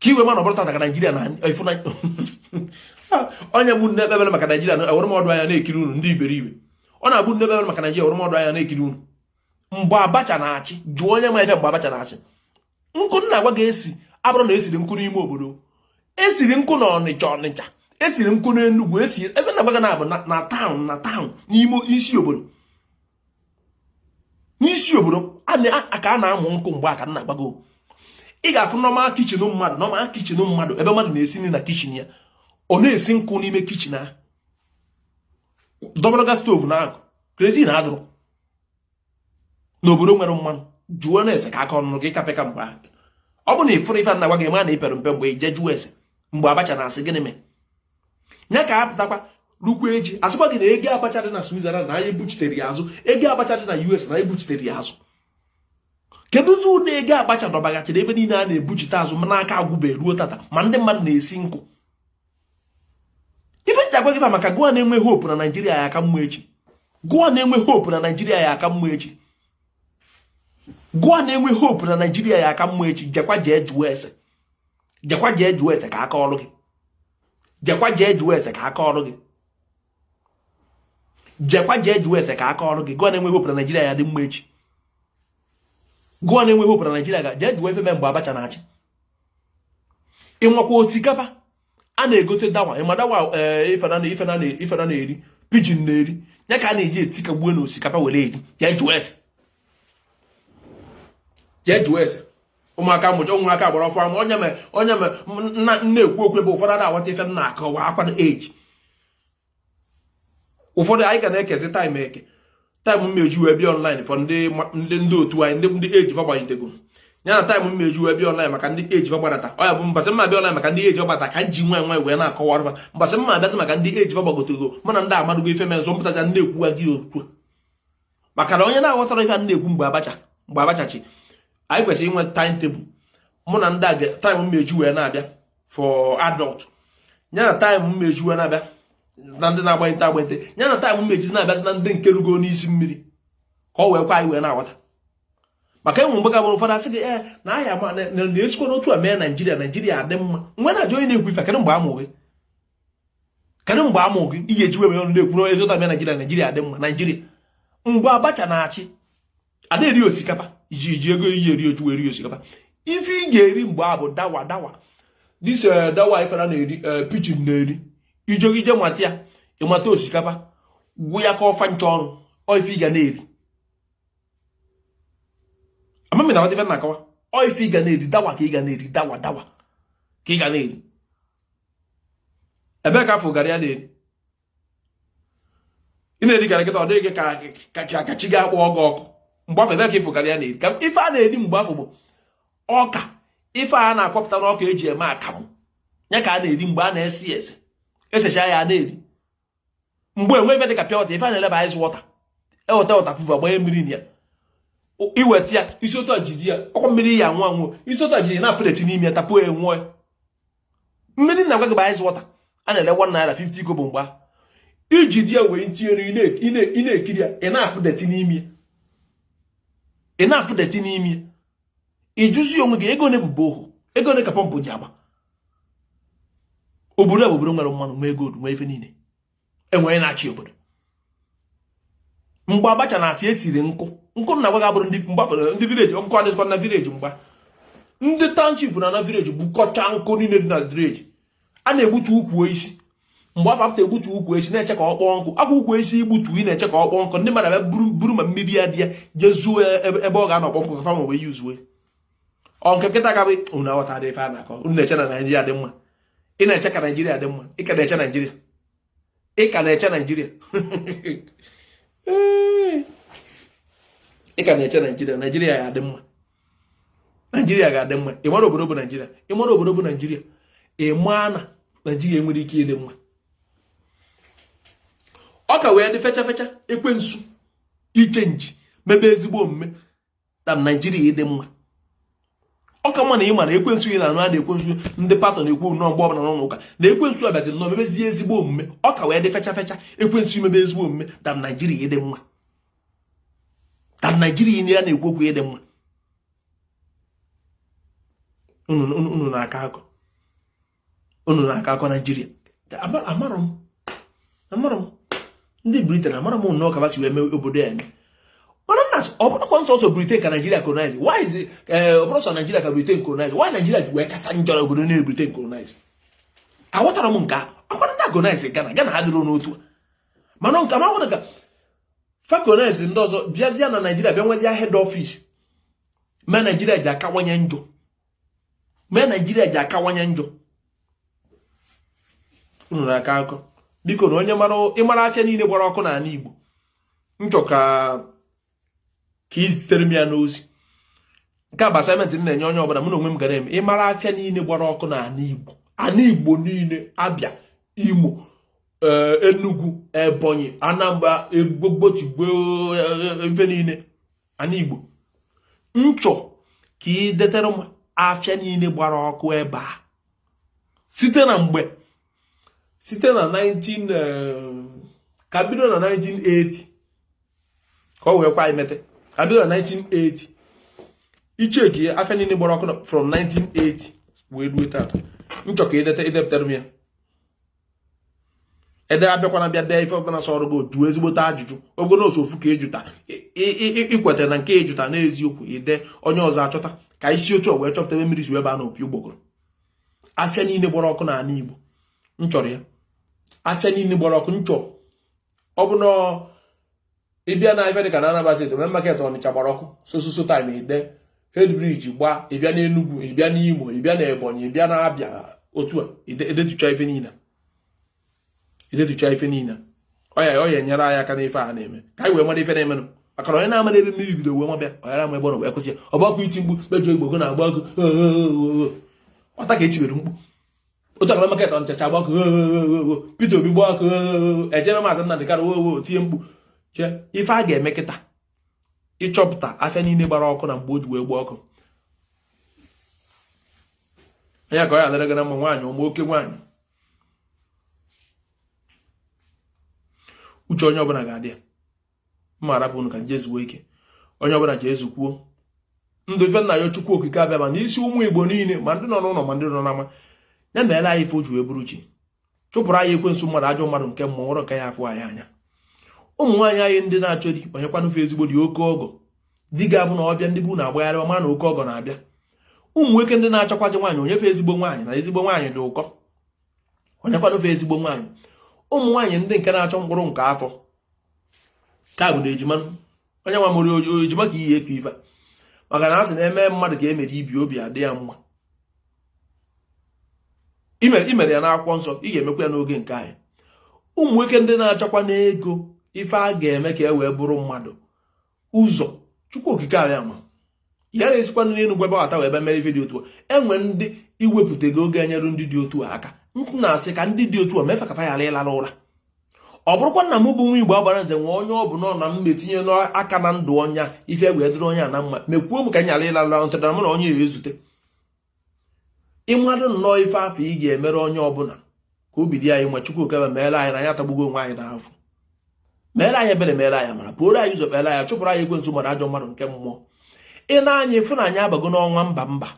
ka i wee ma na ọ bụrọ tata ka naijiria na efu na onye ọbụna na-ekpe ekpere maka naijiria na ewere m ọdụ anya na-ekiri unu ndị iberibe onye ọbụna na-ekpe ekpere maka naijiria ewere m ọdụ anya na-ekiri unu mgbe abacha na-achị jụọ onye ma ife mgbe abacha na-achị nkụ m na-agwa gị esi abụrọ na esiri nkụ n'ime obodo esiri nkụ na ọnịcha ọnịcha esiri nkụ n'enugwu esi ebe m na-agwa gị na-abụ na town na town n'ime isi obodo n'isi obodo ka a na-amụ nkụ mgbe a ka m na-agwa gị ị ga-afụ normal kitchen mmadụ normal kitchen mmadụ ebe mmadụ na-esi nri na kitchen ya ọ na-esi nkụ n'ime kitchen ahụ dọbara gị stove na agụ kerosene adịrọ n'obodo nwere mmanụ jụọ nụ ese ka a kọọrụ nụ gị ị ka pịka mgbe ahụ ọ bụ na ị fụrọ ife m na-agwa gị ma na ị pere mpe mgbe i jee jụọ ese mgbe abacha na-achị gịnị mee ya ka a pụtakwa rukwa echi a sịkwa gị na ego abacha dị na Switzerland na anyị buchitere ya azụ ego abacha dị na US na anyị buchitere ya azụ kedụzị ụdị ego abacha dọbaghachiri ebe niile a na-ebuchite azụ mana ọ ka agwụbe ruo tata ma ndị mmadụ na-esi nkụ ife m ji agwa gị maka gụwa na-enwe hope na naijiria ya aka mma echi gụwa na-enwe hope na naijiria ya aka mma echi gụwa na-enwe hope na naijiria ya aka mma echi jekwa jee jụọ ese jekwa jee jụọ ese ka a kọọrụ gị jekwa jee jụọ ese ka a kọọrụ gị jekwa jee jụọ ese ka a kọọrụ gị gụwa na-enwe hope na naijiria ya-adị mma echi gụwa na-enwe hope na naijiria ga jee jụọ ife mee mgbe abacha na-achị ịnwakwa osikapa a na-egote dawa ị ma dawa eh, ife anụ na-eri pigeon na-eri ya ka a na-eji etikagbuo na osikapa were eri jee jụọ ese jee jụọ ese ụmụaka mụcha ụmụaka gbara afọ ama onye mere onye mere m na-ekwu okwu ebe ụfọdụ ada aghọta ife m na-akọwa akwa eji ụfọdụ anyị ga na-ekezi taịm eke taịm mmeju wee bịa ọnlaịn fọ ndị ndị otu anyị ndị ndị age gbagbanyetego ya na time m ya-eji wee bịa online maka ndị age gbagbadata ọ ya bụ mbasị m ya-abịa online maka ndị age gbagbata ka m ji nwayọ nwayọ wee na-akọwara mbasị mma abịasị maka ndị age gbagbagotego mana ndị amadugo ife mee nzọ mpụtaja ndị ekwuwa gị okwu maka na onye na-aghọtarọ ife a na-ekwu mgbe abacha mgbe abacha chi anyị kwesịrị inwe time table mụ na ndị a time m ga-eji wee na-abịa for adult ya na time m ga-eji wee na-abịa na ndị na-agbanyete agbanyete ya na time m ga-eji na-abịazi na ndị nke rugo n'isi mmiri ka o wee kwe anyị wee na-aghọta maka e nwee mgbe ọ ga-abụrụ ụfọdụ asị gị ee eh, na ahịa ma na-esikwa n'otu a mee naijiria naijiria adị mma m wee na-ajụ onye na-ekwu ife kedụ mgbe a mụ gị kedu mgbe a mụ gị ị ga-eji webe ọnụ na-ekwu na ezota bịa naijiria naijiria dị mma naijiria mgbe abacha na-achị a na-eri osikapa iji iji ego iyi eri oju eri osikapa ife ị ga-eri mgbe afụ bụ dawa dawa dis eh, dawa ife a na-eri eh, pigeon na-eri ijogije mata ya ị mata osikapa gwụ ya ka ọfa nche ọrụ ọ ife ị ga na-eri amamina wata ife na-akọwa ọ ife ị ga na-eri dawa ka ị ga na-eri dawa dawa ka ị ga na-eri ebee ka ị fụ garri a na-eri ị na-eri garri kịta ọ dị gị ka ka chi gị akpọgo ọkụ mgbe afụ ebee ka ị fụ garri a na-eri ka ife a na-eri mgbe afụ bụ ọka ife a na-akwọpụta n'ọka eji eme akamụ ya ka a na-eri mgbe a na-esi ya esi e sicha ya na-eri mgbe enwe ife dịka pure water ife a na-ele bụ ice water e weta waterproof agbanye mmiri na ya i weta ya i si otu a jide ya ọkwa mmiri ị ya-anwụ anwụ i si otu a jide ị na-afụ dirty n'ime ya tapuo ya nwụọ mmiri na-agwa gị bụ ice water a na-ele 1 naira 50 kobo mgbe i jide ya wenite elu ị na-ekiri ya ị na-afụ dirty n'ime ya ị na-afụ dirty n'ime ị jụzie onwe gị ego ole bụ borehole ego ole ka pọmpụ ji agba obodo a bụ obodo nwere mmanụ nwee gold nwee ife niile eji wee na-achị obodo mgbe abacha na-achị e siri nkụ nkụ na-agwa gị abụrọ ndị mgbe ndị village nkụ adịzikwa na village mgbe ndị township naa na village bukọcha nkụ niile dị na village a na-egbutu ukwu osisi mgbe afụ a pụta egbutu ukwu osisi na-eche ka ọ kpọọ nkụ akwụ ukwu osisi i gbutu ị na-eche ka ọ kpọọ nkụ ndị mmadụ abịa buru na mmiri ya bịa je zoo ebe ọ ga-anọ kpọọ nkụ ka fa nwe wee use ọ nke kịta ka ọ bụ unu aghọtarọ ife a na-akọ unu na-eche na naijiria dị mma ị na-eche ka naijiria dị mma ị ka na-eche naijiria ị ka na-eche naijiria ị ka na-eche naijiria naijiria ya adị mma naijiria ga-adị mma ị mara obodo bụ naijiria ị mara obodo bụ naijiria ị mara na naijiria nwere ike ịdị mma ọ ka wee dị fecha fecha ekwensu ichenji mebe ezigbo omume than naijiria ịdị mma ọ ka mma na ị mara ekwensu ị na-anụ ya na ekwensu ndị pastor na-ekwu nnọọ mgbe ọbụla n'ụlọ ụka na ekwensu abịazie nnọọ mebezie ezigbo omume ọ ka wee dị fecha fecha ekwensu imebe ezigbo omume than naijiria ịdị mma than naijiria ị na-ekwu okwu ịdị mma unu na-akọ akọ unu na-aka akọ naijiria amarọ m amarọ m ndị briten amarọ m nnọọ ka ha si wee mee obodo ya eme mana na ọ bụrọkwa nsọsọ briten ka naijiria colonize why is it eh, ọ bụrọ sọ naijiria ka briten colonize why naijiria ji wee kacha njọ na obodo niile briten colonize aghọtara m nke a ọkwa ndị a colonize ghana ghana ha dịrị n'otu a mana nke ma nwere ka fa colonize ndị ọzọ bịazie na naijiria bịa nwezie head office ma naijiria ji akawanye njọ mee naijiria ji akawanye njọ unu na-aka akọ bikonụ onye mara ịmara afịa niile gbara ọkụ n'ala igbo nchọ ka ka izitere m ya n'ozi nke a bụ assignment m na-enye onye ọbụla mụ na onwe m ga-eme ịmara afịa niile gbara ọkụ n'ala igbo ala igbo niile abịa imo eh, enugu ebonyi anambra egbogbotigbo eh, eh, ebe niile ana igbo nchọ ka ị detere m afịa niile gbara ọkụ ebe a site na mgbe site na 19 eh, ka bido na 1980 ka ọ wee kwe imete ka bido na 1980 icheki afịa niile gbara ọkụ from 1980 wee ruo taata nchọ ka ideta idepụtara m ya ede abịakwana bịa dee ife ọbụla sọrọ gị jụọ ezigbote ajụjụ ọ bụrọ sọ ofu ka ịjụta ikweta na nke ịjụta n'eziokwu ide onye ọzọ achọta ka isi otu wee chọpụta ebe mmiri si wee baa na opi ụgbọgụrụ afịa niile gbara ọkụ n'ala Igbo m chọrọ ya afịa niile gbara ọkụ m chọrọ ọ bụ na ịbịa na ife dịka na Anambra state main market Ọnịcha gbara ọkụ so so so time ide headbridge gba ịbịa na Enugu ịbịa na Imo ịbịa na Ebonyi ịbịa na Abịa otu a edetucha ife niile edetucha ife niile ọ ya ọ ya enyere anyị aka n'ife a na-eme ka anyị wee mara ife na-emenụ maka na onye na-amarọ ebe mmiri bido wee maba ya onye na-ama ebe ọ nọ wee kwụsị ya ọ bụ ọkụ iti mgbu mejọ igbo go na-agba ọkụ ọ bụ taa ka etibere mkpu otu a ka main market Ọnịcha si agba ọkụ Peter Obi gba ọkụ ejebe maazị Nnamdị Kanu wee tie mkpu chee ife a ga-eme kịta ịchọpụta afịa niile gbara ọkụ na mgbe o ji wee gba ọkụ anya ka ọ ya adịrị gị na mma nwaanyị ụmụ oke nwaanyị uche onye ọbụla ga-adị ya m ma arapụ unu ka nje zuo ike onye ọbụla jee zukwuo ndụ ife m na-ayọ chukwu okike abịama n'isi ụmụ igbo niile ma ndị nọ n'ụlọ ma ndị nọ n'ama ya meere anyị ife oji wee bụrụ chi chụpụrụ anyị ekwensu mmadụ ajọ mmadụ nke mmụọ nwerọ nke ya afụ anyị anya ụmụ nwaanyị anyị ndị na-achọ di o nyekwanụ fa ezigbo di oke ọgọ di ga-abụ na ọ bịa ndị be unu agbagharịwa ma na oke ọgọ na-abịa ụmụ nwoke ndị na-achọkwazi nwaanyị o nye fa ezigbo nwaanyị na ezigbo nwaanyị dị ụkọ o nyekwanụ fa ezigbo nwaanyị ụmụ nwaanyị ndị nke na-achọ mkpụrụ nke afọ ka bụ na ejima onye nwa mụrụ ejima ka ihe eku ife maka na a sị na eme mmadụ ka emere ibe obi adị ya mma imere ya n'akwụkwọ nsọ ị ga-emekwa ya n'oge nke anyị ụmụ nwoke ndị na-achọkwanụ ego ife a ga-eme ka e wee bụrụ mmadụ ụzọ chukwu okike abịama ya na-esikwanụ n'elu gwa ebe wata wee bịa mere ife dị otu a enwere ndị iwepụtago ga-enyere ndị dị otu a aka nkụ na-asị ka ndị dị otu a mee fa ka fa ghara ịlara ụra ọ bụrụkwa na m bụ nwa igbo agbara nze nwe onye ọ bụ nọ na m metinye n'aka na ndụ onye ife wee dịrị onye a na mma mekwuo m ka m ghara ịlara ụra ntụtara m na onye a ezute ị malụ nnọọ ife afụ ị ga-emere onye ọbụla ka obi dị anyị mma chukwu okike bịa meere anyị na anyị atagbugo onwe anyị n'afụfụ meere anyị ebere meere anyị amara pụoro anyị ụzọ kpere anyị chụpụrụ anyị ekwensu mara ajọ mmadụ nke mmụọ i ne anya ị fụ na anyị abago n'ọnwa mba mba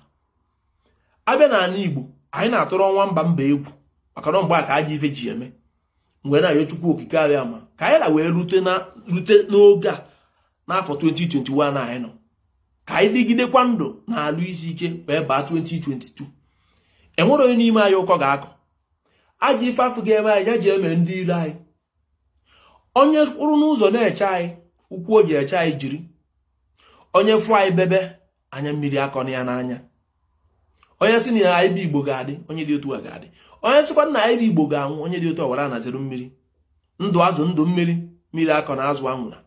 a bịa n'ala igbo anyị na-atụrụ ọnwa mba mba egwu maka na ọ mgbe a ka ajọ ife ji eme wee na-ayọ chukwu okike abịama ka anyị nọ wee rute n'oge a n'afọ 2021 anyị nọ ka anyị dịgidekwa ndụ na arụ isi ike wee baa 2022 enwerọ onye n'ime anyị ụkọ ga-akọ ajọ ife afụ ga-eme anyị ya je mee ndị ilo anyị onye kwụrụ n'ụzọ na-eche anyị ụkwụ o ji eche anyị jiri onye fụ anyị bebe anya mmiri akọna ya n'anya onye sị na anyị bụ igbo ga-adị onye dị otu a ga-adị onye sịkwa na anyị bụ igbo ga-anwụ onye dị otu a wara anaziri mmiri ndụ azụ ndụ mmiri mmiri akọna azụ anwụna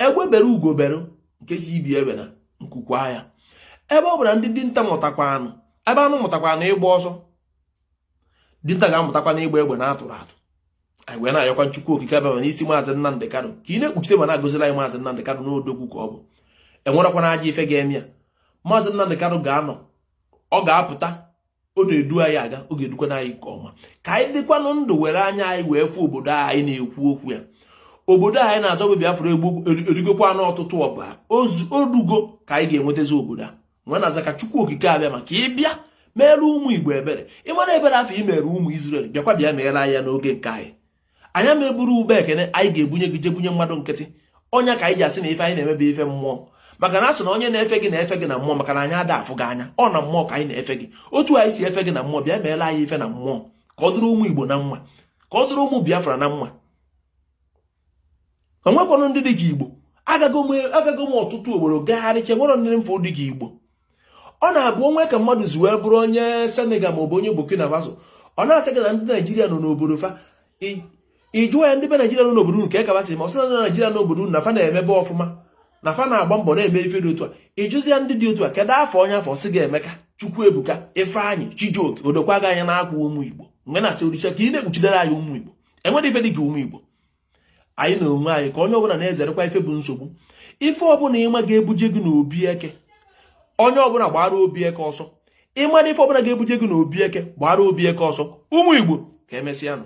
egbe bere ugo bere nke sị ibe ebena nku kwaa ya ebe ọ bụla ndị dinta mụtakwanụ ebe anụ mụtakwanụ ịgba ọsọ dinta ga-amụtakwanụ ịgba egbe na atụrọ atụ anyị wee na-ayọkwa Chukwu okike abịama n'isi maazị Nnamdị Kanu ka ị na-ekpuchite ma na-agozila anyị maazị Nnamdị Kanu na odogwu ka ọ bụ enwekwana ajọ ife ga-eme ya maazị Nnamdị Kanu ga-anọ ọ ga-apụta ọ na-edu anyị aga ọ ga-edukwana anyị nke ọma ka anyị dịkwanụ ndụ were anya anyị wee fụ obodo anyị na-ekwu okwu ya obodo anyị na-azọ bụ Biafra egbu erigokwanụ ọtụtụ ọbara o rugo ka anyị ga-enwetazi obodo a m wee na-asị ka chukwu okike abịama ka ị bịa meere ụmụ igbo ebere ị mara ebere afụ i mere ụmụ izrel bịakwa bịa meere anyị ya n'oge nke anyị anyị ama eburu ube ekene anyị ga-ebunye gị je bunye mmadụ nkịtị ọ nya ka anyị ji asị na ife anyị na-eme bụ ife mmụọ maka na asị na onye na-efe gị na-efe gị na mmụọ maka na anyị ada afụ gị anya ọ na mmụọ ka anyị na-efe gị otu anyị si efe gị na mmụọ bịa meere anyị ife na mmụọ ka ọ dịrị ụmụ igbo na mma ka ọ dịrị ụmụ biafra na mma enwekwanụ ndị dị ka igbo agago m ọtụtụ obodo gagharịchaa enwerọ ife dị ka igbo ọ na-abụ o nwee ka mmadụ si wee bụrụ onye senegal maọbụ onye burkina faso ọ na-asị gị na ndị naijiria nọ n'obodo fa ị jụọ ya ndị be naijiria nọ n'obodo nke ka basị ma ọ sị na naijiria n'obodo na fa na-emebe ọfụma na fa na-agba mbọ na-eme ife dị otu a ị jụzie ya ndị dị otu a kedụ afa onye afụ ọ sị gị emeka chukwuebuka ifeanyị chijioke o dokwa gị anya na ọ kwa ụmụ igbo mgbe na-asị olisa ka ị na-ekpuchidere anyị ụmụ igbo enwerọ ife dị ka ụmụ Igbo anyị na onwe anyị ka onye ọbụla na-ezerekwa ife bụ nsogbu ife ọbụla ị ma ga-ebuje gị n'obi eke onye ọbụla gbaara obi eke ọsọ ị ma na ife ọbụla ga-ebuje gị n'obi eke gbaara obi eke ọsọ ụmụ Igbo ka emesịa nụ